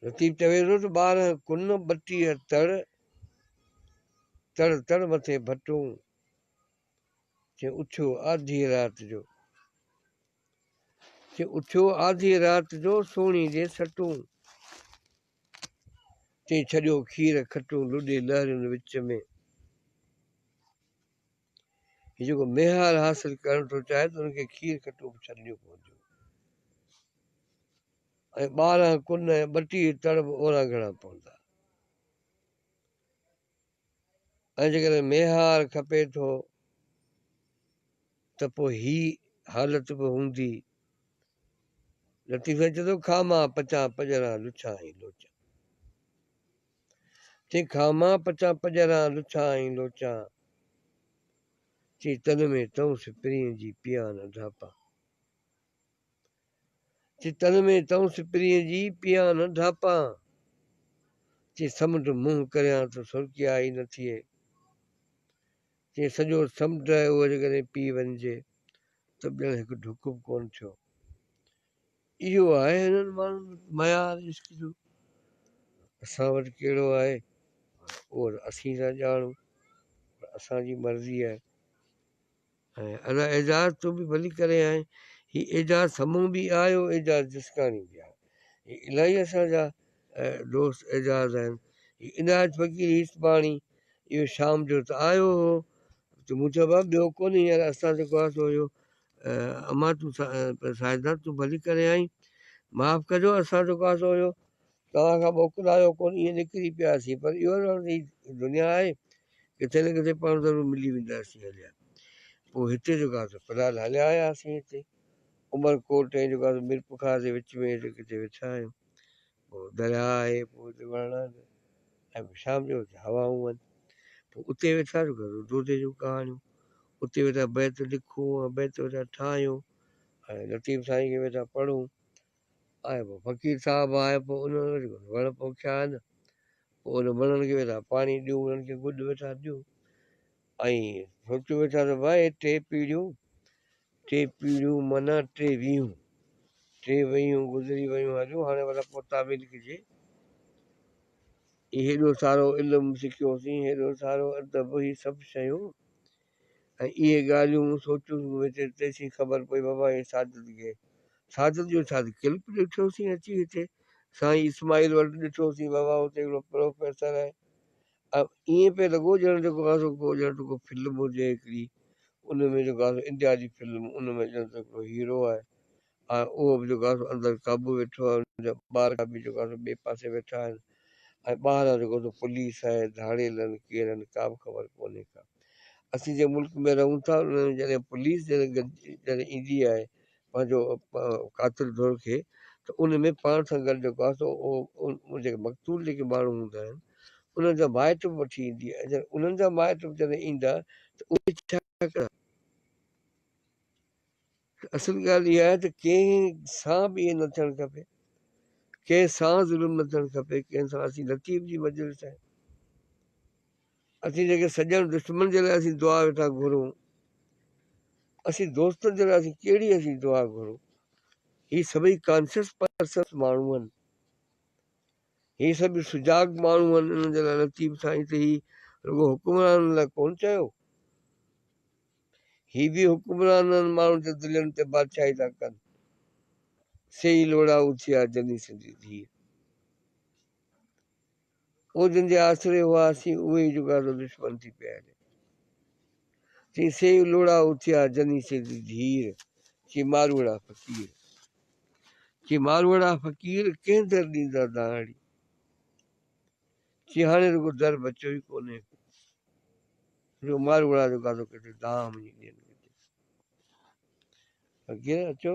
[SPEAKER 1] لطيف چوي ٿو ته ٻار ڪن ٻٽيء تڙ، تڙ تڙ مٿي ڀٽون، چي اٿيو آڌيء رات جو، چي اٿيو آڌيء رات جو، سوڻي جي سٽون، چي ڇڏيو کير کٽون، لڏي لهرين وچ ۾. هي جيڪو ميهار حاصل ڪرڻ ٿو چاهي ته ان کي کير کٽو به ڇڏڻيون پونديون ۽ ٻارهن ڪن ۽ ٻٽيهه تڙ به اورانگهڻا پوندا ۽ جيڪڏهن ميهار کپي ٿو ته پوء هي حالت به هوندي لطيف چوي ٿو کامان پچان پڄران لڇان ۽ لوچان تنهن کان مان پچان پڄران لڇا ۽ لوچا چي تن ۾ تئونس پرينء جي پيا نه ڍاپا چي تن ۾ تئونس پرينء جي پيا نه ڍاپا چي سمنڊ منهن ڪريان ته سرڪي آئي نه ٿئي چي سڄو سمنڊ اهو جيڪڏهن پي وڃجي ته ڄڻ هڪ ڍڪ به ڪونه ٿيو اهو آهي هنن ماڻهن جو معيار عشق جو، اسان وٽ ڪهڙو آهي اهو ته اسين ٿا ڄاڻون پر اسان جي مرضي آهي. ۽ ادا اعجاز تون به ڀلي ڪرين آهين هي اعجاز سمون به آيو اعجاز جسڪاڻي به آهي هي الاهي اسان جا دوست اعجاز آهن هي عنايت فقير هيسباڻي اهو شام جو ته آيو هو ته مون چيو بابا ٻيو ڪونهي يار اسان جيڪو آهي سو اهو امان تون ساجده تون ڀلي ڪرين آئين معاف ڪجو اسان جو ڪاسو هيو توهان کان موڪلايو ڪون ائين نڪري پياسين پر اهو رهڻ جي دنيا آهي ڪٿي نه ڪٿي پاڻ ضرور ملي وينداسين هليا پوء هتي جو ڪاسو في الحال هليا آياسين هتي عمر ڪوٽ ۽ جو ڪاسو ميرپخاص جي وچ ۾ هتي ڪٿي ويٺا آهيون پوء درياء آهي، پوء اتي وڻ آهن ۽ پوء شام جو اتي هوائون آهن. پوء اتي ويٺا سو گهرو دودي جون ڪهاڻيون، اتي ويٺا بيت لکون ۽ بيت ويٺا ٺاهيون ۽ لطيف سائين کي ويٺا پڙهون ۽ پوء فقير صاحب آهي پوء انهن وٽ جيڪو وڻ پوکيا آهن، پوء انهن وڻن کي ويٺا پاڻي ڏيون، انهن کي گڏ ويٺا ڏيون. ائين سوچيو ويٺا ته وهي ٽي پيڙهيون، ٽي پيڙهيون معنيٰ ٽي ويهون، ٽي ويهون گذري ويون هليون هاڻي ڀلا پوء تعويل ڪجي. هيڏو سارو علم سکيوسين، هيڏو سارو ادب، هي سڀ شيون ۽ اهي ڳالهيون مون سوچيون مون هتي تيسين خبر پئي بابا هي سعادت گي سعادت جو ڇا ڪلپ ڏٺوسين اچي هتي سائين اسماعيل وٽ ڏٺوسين بابا هتي هڪڙو پروفيسر آهي ائين پئي لڳو ڄڻ جيڪو آهي سو ڪو ڄڻ ته ڪو فلم هجي هڪڙي ان ۾ جيڪو آهي سو انڊيا جي فلم ان ۾ ڄڻ ته هڪڙو هيرو آهي ۽ اهو به جيڪو آهي سو اندر قابو ويٺو آهي ان جا ٻار به جيڪو آهي سو ٻئي پاسي ويٺا آهن ۽ ٻاهران جيڪو سو پوليس آهي ڌاڙيل آهن ڪير آهن ڪا به خبر ڪونهي ڪا اسين جنهن ملڪ ۾ رهون ٿا ان ۾ جڏهن پوليس جڏهن گڏجي جڏهن ايندي آهي پنهنجو قاتل ڌر کي ته ان ۾ پاڻ سان گڏ جيڪو آهي سو اهو جيڪي مقتول جيڪي ماڻهو هوندا آهن انهن جا مائٽ به وٺي ايندي ۽ جڏهن انهن جا مائٽ به جڏهن ايندا ته اهي ڇا ڪندا؟ اصل ڳالهه اها آهي ته ڪنهن سان به ائين نه ٿيڻ کپي ڪنهن سان ظلم نه ٿيڻ کپي ڪنهن سان اسين لطيف جي مجلس آهي. اسين جيڪي سڄڻ دشمن جي لاء اسين دعا ويٺا گهرون اسين دوستن جي لاء اسين ڪهڙي اسين دعا گهرون هي سڀئي ڪانشس پرسنس ماڻهو آهن هي سڀ سجاڳ ماڻهو آهن انهن جي لاء لطيف سائين ته هي رڳو حڪمرانن لاء ڪون چيو هي به حڪمرانن ماڻهن جي دلين تي بادشاهي ٿا ڪن سي لوڙا اٿيا جني سنڌي ڌيء او جن جي آسري هئاسين، اهي ئي جو ڳاڙهو دشمن ٿي پيا هلين. چيائين، سي ئي لوڙها اٿيا، جني سي دي ڌير. چيائين، ماروئڙا فقير. چيائين، ماروئڙا فقير، ڪنهن در ڏيندا دانهڙي. چيائين، هاڻي رڳو در بچيو ئي ڪونهي ڪو، جو ماروئڙا جو گادو ڪڍي دانهن وڃي ڏين ڪٿي. فقير اچو.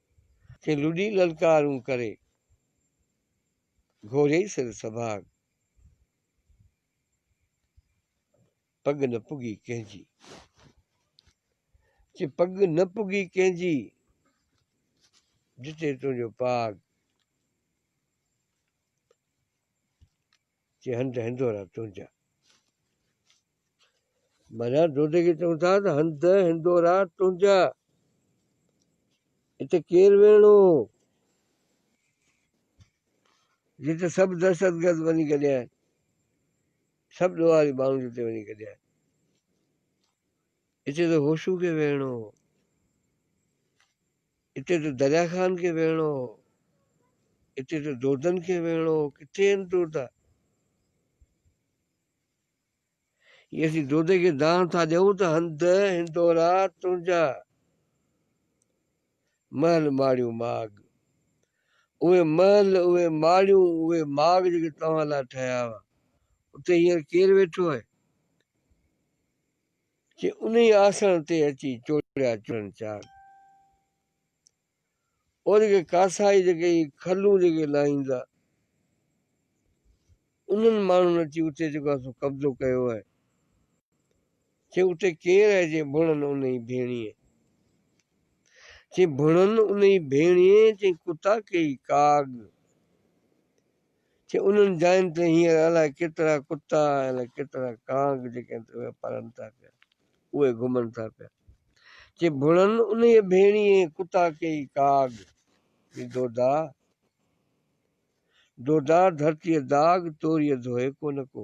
[SPEAKER 1] کي لڏي للڪارون ڪري، گهوري سر سڀاڳ، پڳ نه پڳي ڪنهن جي. چي پڳ نه پڳي ڪنهن جي، ڏٺي تنهنجو پاڳ. چي هنڌ هندورا تنهنجا. مانا دوديگي چون ٿا ته هنڌ هندورا تنهنجا. اتي ڪير ويهڻو هو جتي سڀ دهشتگرد وڃي گڏيا آهن سڀ ڏوهاري ماڻهو جتي وڃي گڏيا آهن اتي ته هوشو کي ويهڻو هو اتي ته دريا خان کي ويهڻو هو، اتي ته دودن کي ويهڻو هو، ڪٿي آهن دودا؟ جي اسين دودي کي دانهن ٿا ڏيون ته هنڌ هندورا تنهنجا محل ماڙيون ماڳ اهي محل اهي ماڙيون اهي ماڳ جيڪي توهان لاء ٺهيا هئا اتي هينئر ڪير ويٺو آهي؟ چي انهي آسڻ تي اچي چوڙيا چڙهن چار. او جيڪي ڪاسائي جيڪي هي کلون جيڪي لاهيندا انهن ماڻهن اچي اتي جيڪو آهي سو قبضو ڪيو آهي. چي اتي ڪير آهي چي ڀڻن انهي ڀيڻيء. چي ڀڻن انهي ڀيڻيء چي ڪتا ڪيئي ڪاڳ. چي انهن جاين تي هينئر الائي ڪيترا ڪتا ۽ الائي ڪيترا ڪانگ جيڪي هتي ويا پرن ٿا پيا اهي گهمن ٿا پيا چي ڀڻن انهيء ڀيڻيء ڪتا ڪيئي ڪاڳ جي دودا دودا ڌرتيء داغ توريء ڌوئي ڪونه ڪو.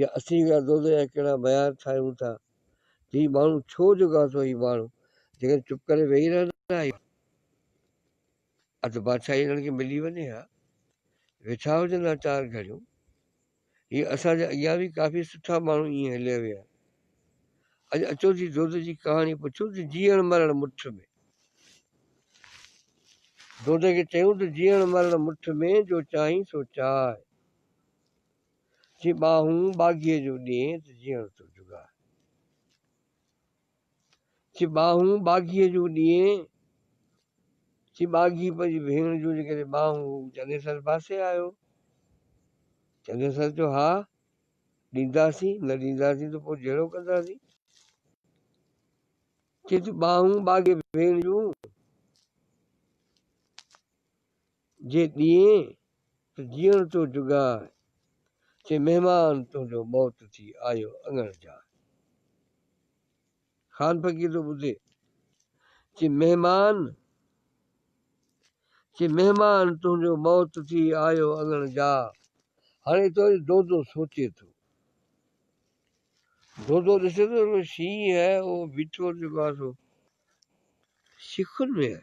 [SPEAKER 1] يا اسين ڪهڙا دودي يا ڪهڙا ميار ٺاهيون ٿا ته هي ماڻهو ڇو جوڳا ٿو هي ماڻهو جيڪڏهن چپ ڪري ويهي رهندا آهيون اڌ بادشاهي هنن کي ملي وڃي ها ويٺا هجن ها چار گهڙيون هي اسان جي اڳيان به ڪافي سٺا ماڻهو ائين هليا ويا اڄ اچو جي دود جي ڪهاڻي پڇو ته جيئڻ مرڻ مٺ ۾ دود کي چيون ته جيئڻ مرڻ مٺ ۾ جو چاهين سو چاهه جي ٻانهون ٻاگهيء جو ڏينء ته جيئڻ ٿو جڳاء. جي ٻانهون ٻاگهيء جو ڏينء، جي ٻاگهي پنهنجي ڀيڻ جون جيڪڏهن ٻانهون هو چنيسر پاسي آيو. چنيسر چيو، ها، ڏينداسين، نه ڏينداسين ته پوء جهيڙو ڪنداسين. چيس ٿي، ٻانهون ٻاگهي ڀيڻ جون. جي ڏينهين ته جيئڻ تو جوڳائي، چي مهمان تنهنجو موت ٿي آيو اڱڻ جاء. خان فقير ٿو ٻڌي، چي مهمان، چي مهمان تنهنجو موت ٿي آيو اڱڻ جاء. هاڻي ايترو جو دودو سوچي ٿو. دودو ڏسي ٿو جو شينهن آهي اهو بيٺو جيڪو آهي سو شيخن ۾ آهي.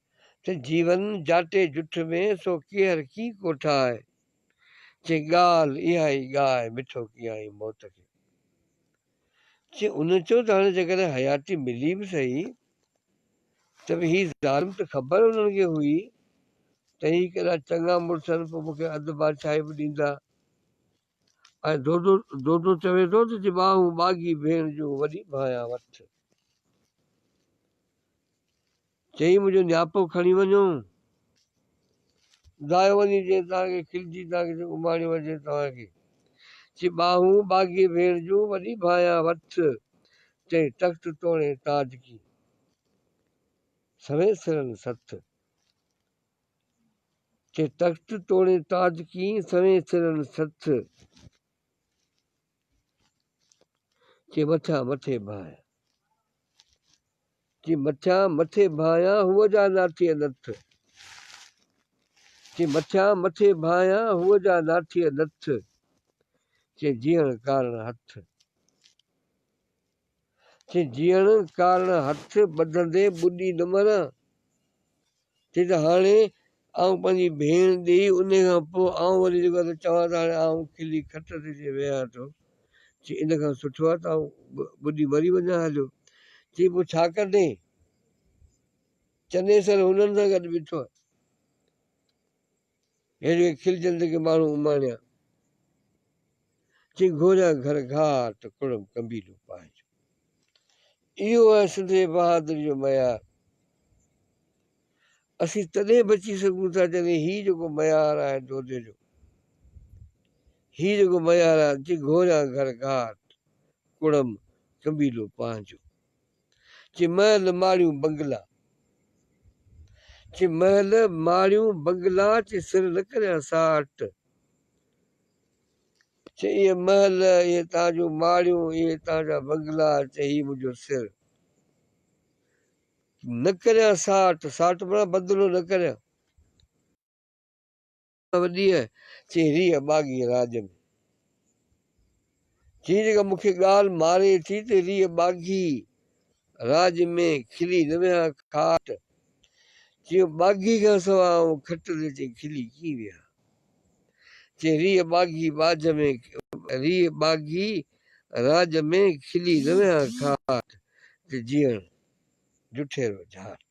[SPEAKER 1] چي جيون جاٽي جٺ ۾، سو ڪيهر ڪيئن ڪو ٺاهي. چي ڳالهه اها ئي ڳاء، مٺو ڪيائين موت کي. چي ان چيو ته هاڻي جيڪڏهن حياتي ملي به سهي، ته به هي ظالم ته خبر انهن کي هئي، ته هي ڪيڏا چڱا مڙس آهن، پوء مون کي اڌ بادشاهي به ڏيندا. ۽ دودو دودو چوي ٿو ته جي ٻانهون ٻاگهي ڀيڻ جون وڏي ڀانئيان وٺ. چئي منهنجو نياپو کڻي وڃو. دايو وڃي جي توهان کي کلجي توهان کي جيڪو ماڻيو اچي توهان کي. چي ٻانهون ٻاگهي ڀيڻ جون وڏي ڀانئيان وٺ. چئي تخت توڻي تاج ڪين. سوين سرن سٿ. تي تخت توڻي تاج ڪيئي سوين سرن سٿ چي مٿيان مٿي ڀانئيان چي مٿيان مٿي ڀانئيان هو جا ناٿيء نٿ چي مٿيان مٿي ڀانئيان هو جا ناٿيء نٿ چي جيئڻ ڪارڻ هٿ چي جيئڻ ڪارڻ هٿ ٻڌندي ٻڏي نه مران. چي ته هاڻي آئون پنهنجي ڀيڻ ڏي انهي کان پوء آئون وري جيڪو آهي سو چوان ته هاڻي آئون کلي کٽ تي اچي ويهان ٿو. چي ان کان سٺو آهي ته آئون ٻڏي مري وڃان هليو. چي پوء ڇا ڪندين؟ چنيسر هنن سان گڏ بيٺو آهي. هيڏي کلجندي ڪي ماڻهو اماڻيا، چئي گهوريان گهر گهار ته ڪڙم قبيلو پنهنجو. اهو آهي سنڌي بهادري جو معيار. اسين تڏهن بچي سگهون ٿا جڏهن هي جيڪو معيار آهي دودي جو، هي جيڪو معيار آهي، چئي گهوريان گهر گهار ته ڪڙم قبيلو پنهنجو. چي محل ماڙيون بنگلا، چي محل ماڙيون بنگلا، چي سر نه ڪريان ساٽ، چي اهي محل اهي تان جون ماڙيون اهي تان جا بنگلا، چي هي منهنجو سر نه ڪريان ساٽ، ساٽ معنيٰ بدلو نه ڪريان. ته ڏينهن چي ريهه ٻاگهي راڄ ۾. جيئن جيڪا مون کي ڳالهه ماري ٿي ته ريهه ٻاگهي راڄ ۾، کلي نه ويهان کاٽ، چيو ٻاگهي کان سواء آئون کٽ تي چي کلي ڪيئن ويهان؟ چي ريهه ٻاگهي ٻاجهه ۾، ريهه ٻاگهي راڄ ۾، کلي نه ويهان کاٽ، چي جيئڻ جٺيرو جهاٽ.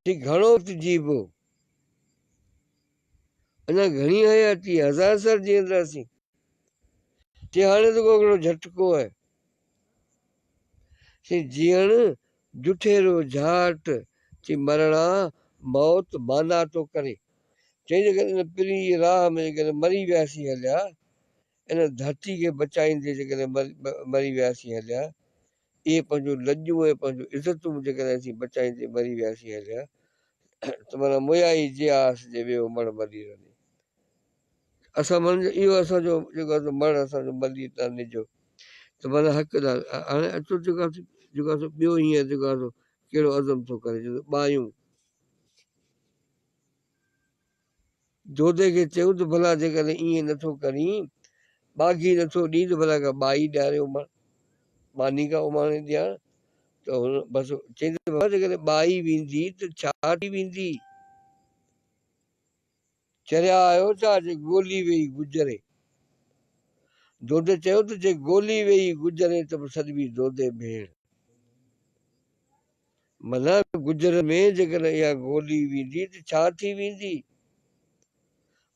[SPEAKER 1] چي گهڻو وقت جيئبو؟ اڃا گهڻي حياتي آهي، هزار سال جيئنداسين. چي هاڻي ته ڪو گهڻو جهٽڪو آهي. چي جيئڻ جٺيرو جهاٽ، چي مرڻ آ موت مانا ٿو ڪري. چي جيڪڏهن ان پرينء جي راهه ۾ جيڪڏهن مري وياسين هليا، ان ڌرتي کي بچائيندي جيڪڏهن مري وياسين هليا، اهي پنهنجون لڄون ۽ پنهنجون عزتون به جيڪڏهن اسين بچائيندي مري وياسين هليا ته معنيٰ مويا ئي جيا هئس جي ويو مڙ ملير هني اسان معنيٰ جو اهو اسان جو جيڪو آهي سو مڙ اسان جو ملير تان نجو ته معنيٰ حق ڏا هاڻي اچو جيڪو آهي سو جيڪو آهي سو ٻيو هينئر جيڪو آهي سو ڪهڙو عزم ٿو ڪري چوي ٿو ٻايون دودي کي چيو ته ڀلا جيڪڏهن ائين نه ٿو ڪرين، ٻاگهي نه ٿو ڏئين ته ڀلا ڪا ٻائي ڏياري اماڻ، ماني ڪا اماڻي ڏيار ته هن بس چيائين ته بابا جيڪڏهن ٻائي ويندي ته ڇا ٿي ويندي؟ چريا آهيو ڇا جي ڳولي ويئي گجري؟ دودي چيو ته جي ڳولي ويئي گجري ته به سڏبي دودي ڀيڻ. منهن گجر ۾ جيڪڏهن اها گولي ويندي ته ڇا ٿي ويندي؟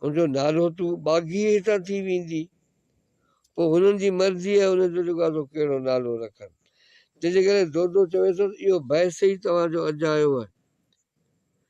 [SPEAKER 1] ان جو نالو تون ٻاگهي هتان ٿي ويندي. پوء هنن جي مرضي آهي هنن جو جيڪو سو ڪهڙو نالو رکن. تنهنجي ڪري دودو چويسس اهو بحث ئي توهان جو اجايو آهي.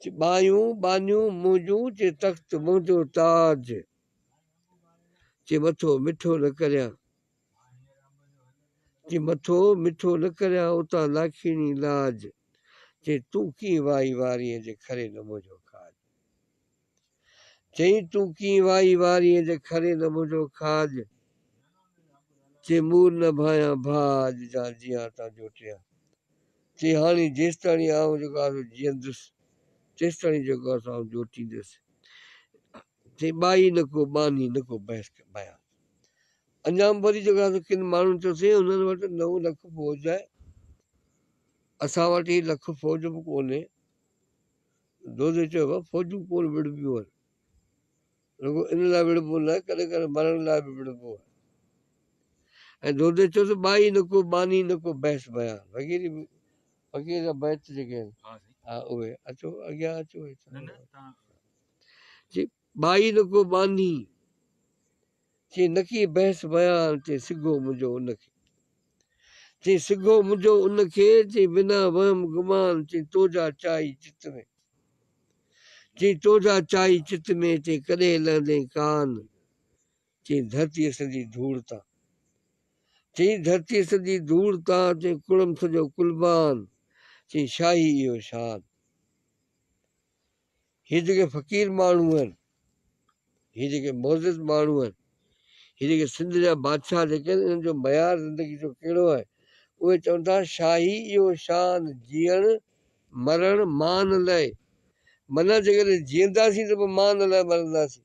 [SPEAKER 1] چي ٻانهيون ٻانهيون منهنجون، چي تخت منهنجو تاج، چي مٿو مٺو نه ڪريان، چي مٿو مٺو نه ڪريان اتان لاکيڻي لاج، چي تون ڪيئن وائي وارينء جي کرين منهنجو کاڄ. چيائين تون ڪيئن وائي وارين جي کرين نه منهنجو کاڄ چي مور نه ڀانيان ڀاء اڄ جا جيان تان جوٽيان چي هاڻي جيستاڻي آئون جيڪو آسو جيئندس تيستاڻي جيڪو آسو آئون جوٽيندس چي ٻائي نه ڪو ٻانهي نه ڪو بحث بيان انجام وري جيڪو آسو ڪن ماڻهن چيو سائين انهن وٽ نو لک فوج آهي اسان وٽ هي لک فوج به ڪونهي دودي چيو، فوجون ڪونه وڙهبيون آهن، رڳو ان لاء وڙهبو نه، ڪڏهن ڪڏهن مرڻ لاء به وڙهبو آهي. ۽ دودي چيو ته ٻائي نه ڪو ٻانهي نه ڪو بحث بيان وغيره به فقير جا بيت جيڪي آهن اهي اچو اڳيان اچو. ٻائي نڪو ٻانهي چئي نڪي بحث بيان چئي سگهو منهنجو ان کي چئي سگهو منهنجو ان کي چئي بنا وهم گمان چئي توجا چائي چت ۾. چئي توجا چائي چت ۾، چئي ڪڏهن لهندين ڪان چئي ڌرتيء سندي ڌوڙ تان چئي ڌرتيء سندي ڌوڙ تان چئي ڪڙم سڄو قلبان چئي شاهي اهو شان. هي جيڪي فقير ماڻهو آهن، هي جيڪي معزز ماڻهو آهن، هي جيڪي سنڌ جا بادشاهه جيڪي آهن انهن جو معيار زندگي جو ڪهڙو آهي؟ اهي چون ٿا شاهي اهو شان جيئڻ مرڻ مان لئه. معنيٰ جيڪڏهن جيئنداسين ته پوء مان لئه مرنداسين.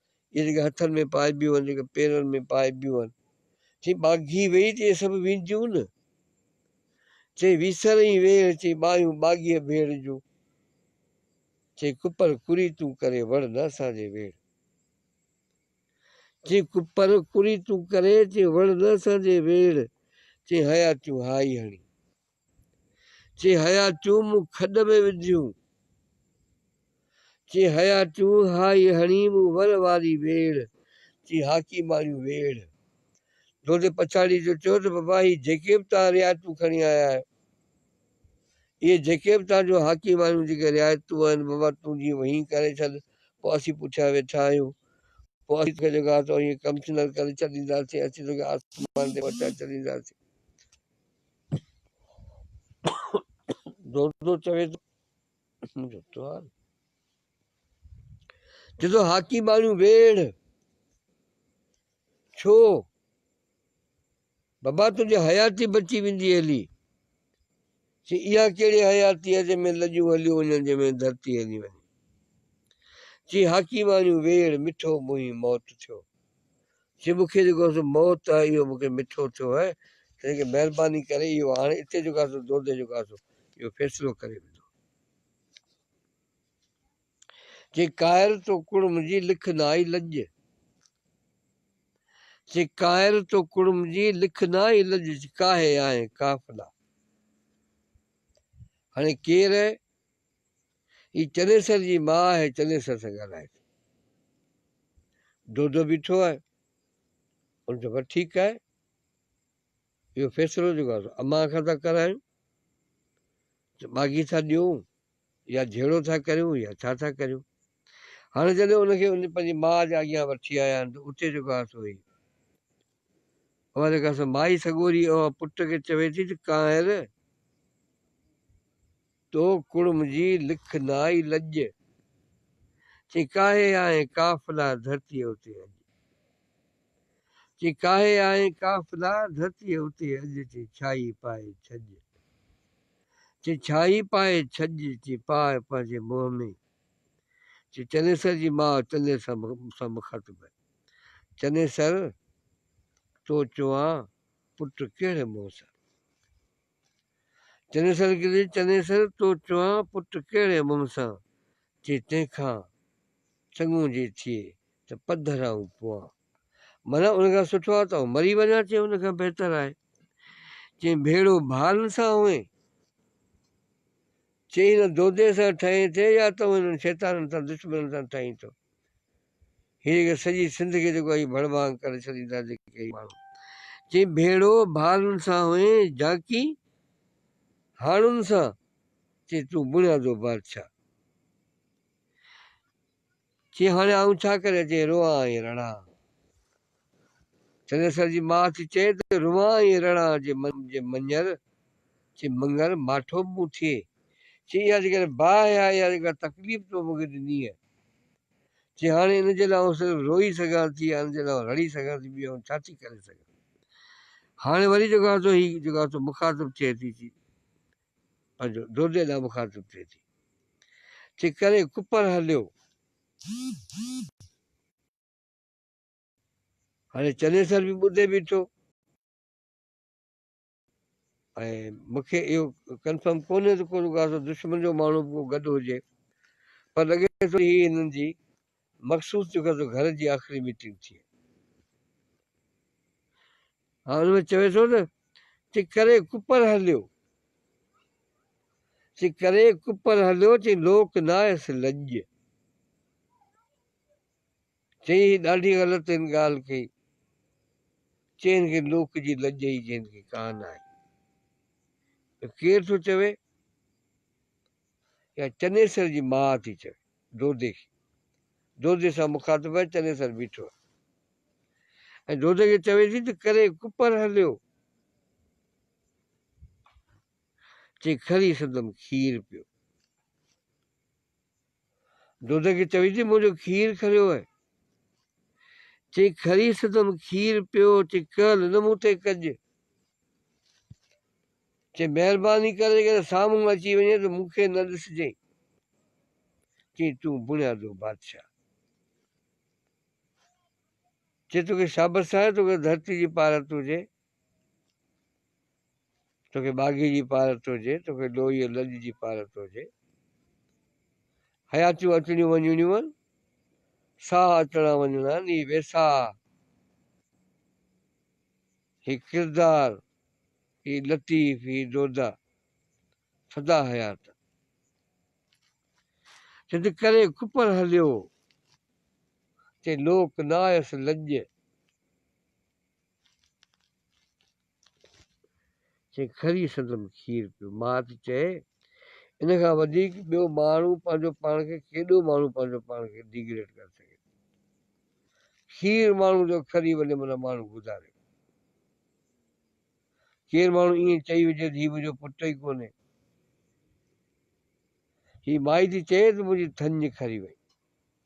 [SPEAKER 1] اهي جيڪي هٿن ۾ پائبيون آهن، جيڪي پيرن ۾ پائبيون آهن. چئي ٻاگهي ويئي ته اهي سڀ وينديون نه. چئي ويسرئين ويڙهه، چئي ٻانهيون ٻاگهيء ڀيڙ جون. چئي ڪپر ڪريتون ڪري، وڙهه نه اسان جي ويڙهه. چئي ڪپر ڪريتون ڪري، چئي وڙهه نه اسان جي ويڙهه. چئي حياتيون هائي هڻي. چي هيا چون مون کڏ ۾ وجهيون. چي هيا چون هائي هڻي مون ور واري ويڙ. چي هاڪي ماڻيون ويڙ. دودي پڇاڙي جو چيو ته بابا هي جيڪي به توهان رعايتون کڻي آيا آهيو. اهي جيڪي به توهان جون هاڪي ماڻيون جيڪي رعايتون آهن بابا تون جي وهين ڪري ڇڏ پوء اسين پٺيان ويٺا آهيون. پوء اسين توکي جيڪو آهي سو ائين ڪمشنر ڪري ڇڏينداسين. اسين توکي آسمان تي پهچائي ڇڏينداسين. دودو چوي ٿو جدو هاڪي ماڻيون ويڙهه ڇو بابا تنهنجي حياتي بچي ويندي هلي سي اها ڪهڙي حياتي آهي جنهن ۾ لڄون هليون وڃن جنهن ۾ ڌرتي هلي وڃي چي هاڪي ماڻيون ويڙ مٺو منهين موت ٿيو جي مون کي جيڪو سو موت آهي اهو مون کي مٺو ٿيو آهي تنهنڪري مهرباني ڪري اهو هاڻي اتي جيڪو سو دودي جيڪو سو اهو فيصلو ڪري ويندو. چي قاهر تو ڪڙم جي لک نه آئي لڄ. چي قاهر تو ڪڙم جي لک نه آئي لڄ چي ڪاهي آهين قافلا. هاڻي ڪير هي چنيسر جي ماء آهي چنيسر سان ڳالهائي ٿي. دودو بيٺو آهي ان چيو بس ٺيڪ آهي اهو فيصلو جيڪو آهي امان کان ٿا ڪرايون ٻاگهي ٿا ڏيون يا جهيڙو ٿا ڪريون يا ڇا ٿا ڪريون هاڻي جڏهن ان کي ان پنهنجي ماء جي اڳيان وٺي آيا آهن ته اتي جيڪو آهي سو هي اها جيڪا سو مائي سڳوري اها پٽ کي چوي ٿي ته ڪانئر تو ڪڙم جي لک نائي لڄ. چي ڪاهي آهين قافلا ڌرتيء اتي اڄ. چي ڪاهي آهين قافلا ڌرتيء اتي اڄ. چي ڇاهي پائي ڇڄ. چي ڇاهي پائي ڇڄ. چي پاء پنهنجي منهن ۾. چي چنيسر جي ماء تنهنجي سان مخاطب آهي. چنيسر! تو چوان پٽ ڪهڙي منهن سان. چنيسر گري چنيسر تو چوان پٽ ڪهڙي منهن سان جي تنهن کان چڱو جي ٿئي ته پڌر آئون پوان معنيٰ ان کان سٺو آهي ته آئون مري وڃان چي ان کان بهتر آهي چي ڀيڙو ڀارن سان هئين چي هن دودي سان ٺهين ٿي يا ته هنن شيطانن سان دشمنن سان ٺهين ٿو. هي جيڪي سڄي سنڌ کي جيڪو اهي ڀڙ ڀانگ ڪري ڇڏيندا جيڪي هي ماڻهو. چئين ڀيڙو ڀالن سان هئين جاکي هاڻن سان چئين تون بڻيا جو بادشاهه. چئين هاڻي آئون ڇا ڪريان چئين روئان ۽ رڙان. چنيسر جي ماء ٿي چئي ته روئان ۽ رڙان جي مڃر چئين مڱر ماٺو به مون ٿئي. چئين اها جيڪڏهن باهه آهي يا جيڪا تڪليف تو مون کي ڏنينء. جي هاڻي ان جي لاء آئون صرف روئي سگهان ٿي يا ان جي لاء آئون رڙي سگهان ٿي ٻيو آئون ڇا ٿي ڪري سگهان. هاڻي وري جيڪو آهي سو هي جيڪو آهي سو مخاطب ٿئي ٿي چي پنهنجو دودي ڏانهن مخاطب ٿئي ٿي چي ڪري ڪپر هليو. هاڻي چنيسر به ٻڌي بيٺو. ۽ مون کي اهو ڪنفرم ڪونهي ته ڪو ڪا سو دشمن جو ماڻهو به ڪو گڏ هجي پر لڳي ٿو هي هنن جي مخصوص جو ڪا سو گهر جي آخري ميٽنگ ٿئي ها ان ۾ چوي ٿو نه چي ڪري ڪپر هليو چي ڪري ڪپر هليو چي لوڪ ناهيس لڄ چيائين هي ڏاڍي غلط هن ڳالهه ڪئي. چي هن کي لوڪ جي لڄ ئي جي هن کي ڪا نه آهي. ته ڪير ٿو چوي؟ اها چنيسر جي ماء ٿي چوي دودي کي. دودي سان مخاطب آهي چنيسر بيٺو آهي. ۽ دودي کي چوي ٿي ته ڪري ڪپر هليو. چي کڻي سندم کير پيو. دودي کي چوي ٿي منهنجو کير کريو هي. چي کري سدم کير پيو چي کل نه مون تي ڪڄ. چي مهرباني ڪري جيڪڏهن سامهون اچي وڃين ته مون کي نه ڏسجين. چي تون بڻيا دو بادشاهه. چي توکي شابس آهي توکي ڌرتي جي پارت هجي. توکي ٻاگهي جي پارت هجي، توکي لوئيء لڄ جي پارت هجي. حياتيون اچڻيون وڃڻيون آهن، ساهه اچڻا وڃڻا آهن، هي ويساهه، هي ڪردار، هي لطيف، هي دودا سدا حيات آهن. جت ڪري ڪپر هليو، تي لوڪ نه آيس لڄ. چيائين، کري سندم کير پيو. مات چئي، ان کان وڌيڪ ٻيو ماڻهو پنهنجو پاڻ کي ڪيڏو ماڻهو پنهنجو پاڻ کي ڊيگريڊ ڪري سگهي ٿو. کير ماڻهو جو کري وڃي منا ماڻهو گذاري وڃي. ڪير ماڻهو ائين چئي وجهي ته هي منهنجو پٽ ئي ڪونهي. هي مائي ٿي چئي ته منهنجي ٿڃ کري وئي.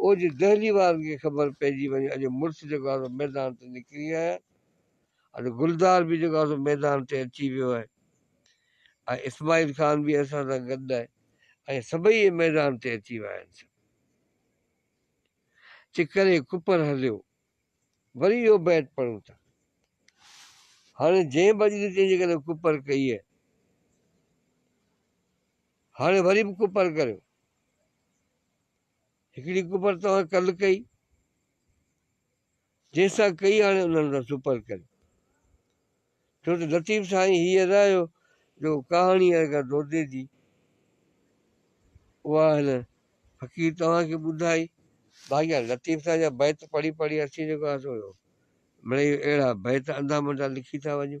[SPEAKER 1] او جي دهلي وارن کي خبر پئجي وڃي اڄ مڙس جيڪو آهي سو ميدان تي نڪري آيا آهن ۽ گلزار به جيڪو آهي سو ميدان تي اچي ويو آهي ۽ اسماعيل خان به اسان سان گڏ آهي ۽ سڀئي اهي ميدان تي اچي ويا آهن سڀ چي ڪري ڪپر هليو وري اهو بيت پڙهون ٿا هاڻي جنهن به اڄ جنهن جي ڪري ڪپر ڪئي آهي هاڻي وري به ڪپر ڪريو هڪڙي ڪپر توهان ڪل ڪئي، جنهن سان ڪئي هاڻي انهن سان سپر ڪري. ڇو ته لطيف سائين هي ارايو جو ڪهاڻي ارغا دودي جي اها هن فقير توهان کي ٻڌائي. باقي لطيف سائين جا بيت پڙهي پڙهي اسين جيڪو آسو مڙئي اهڙا بيت انڌا منڊا لکي ٿا وڃون.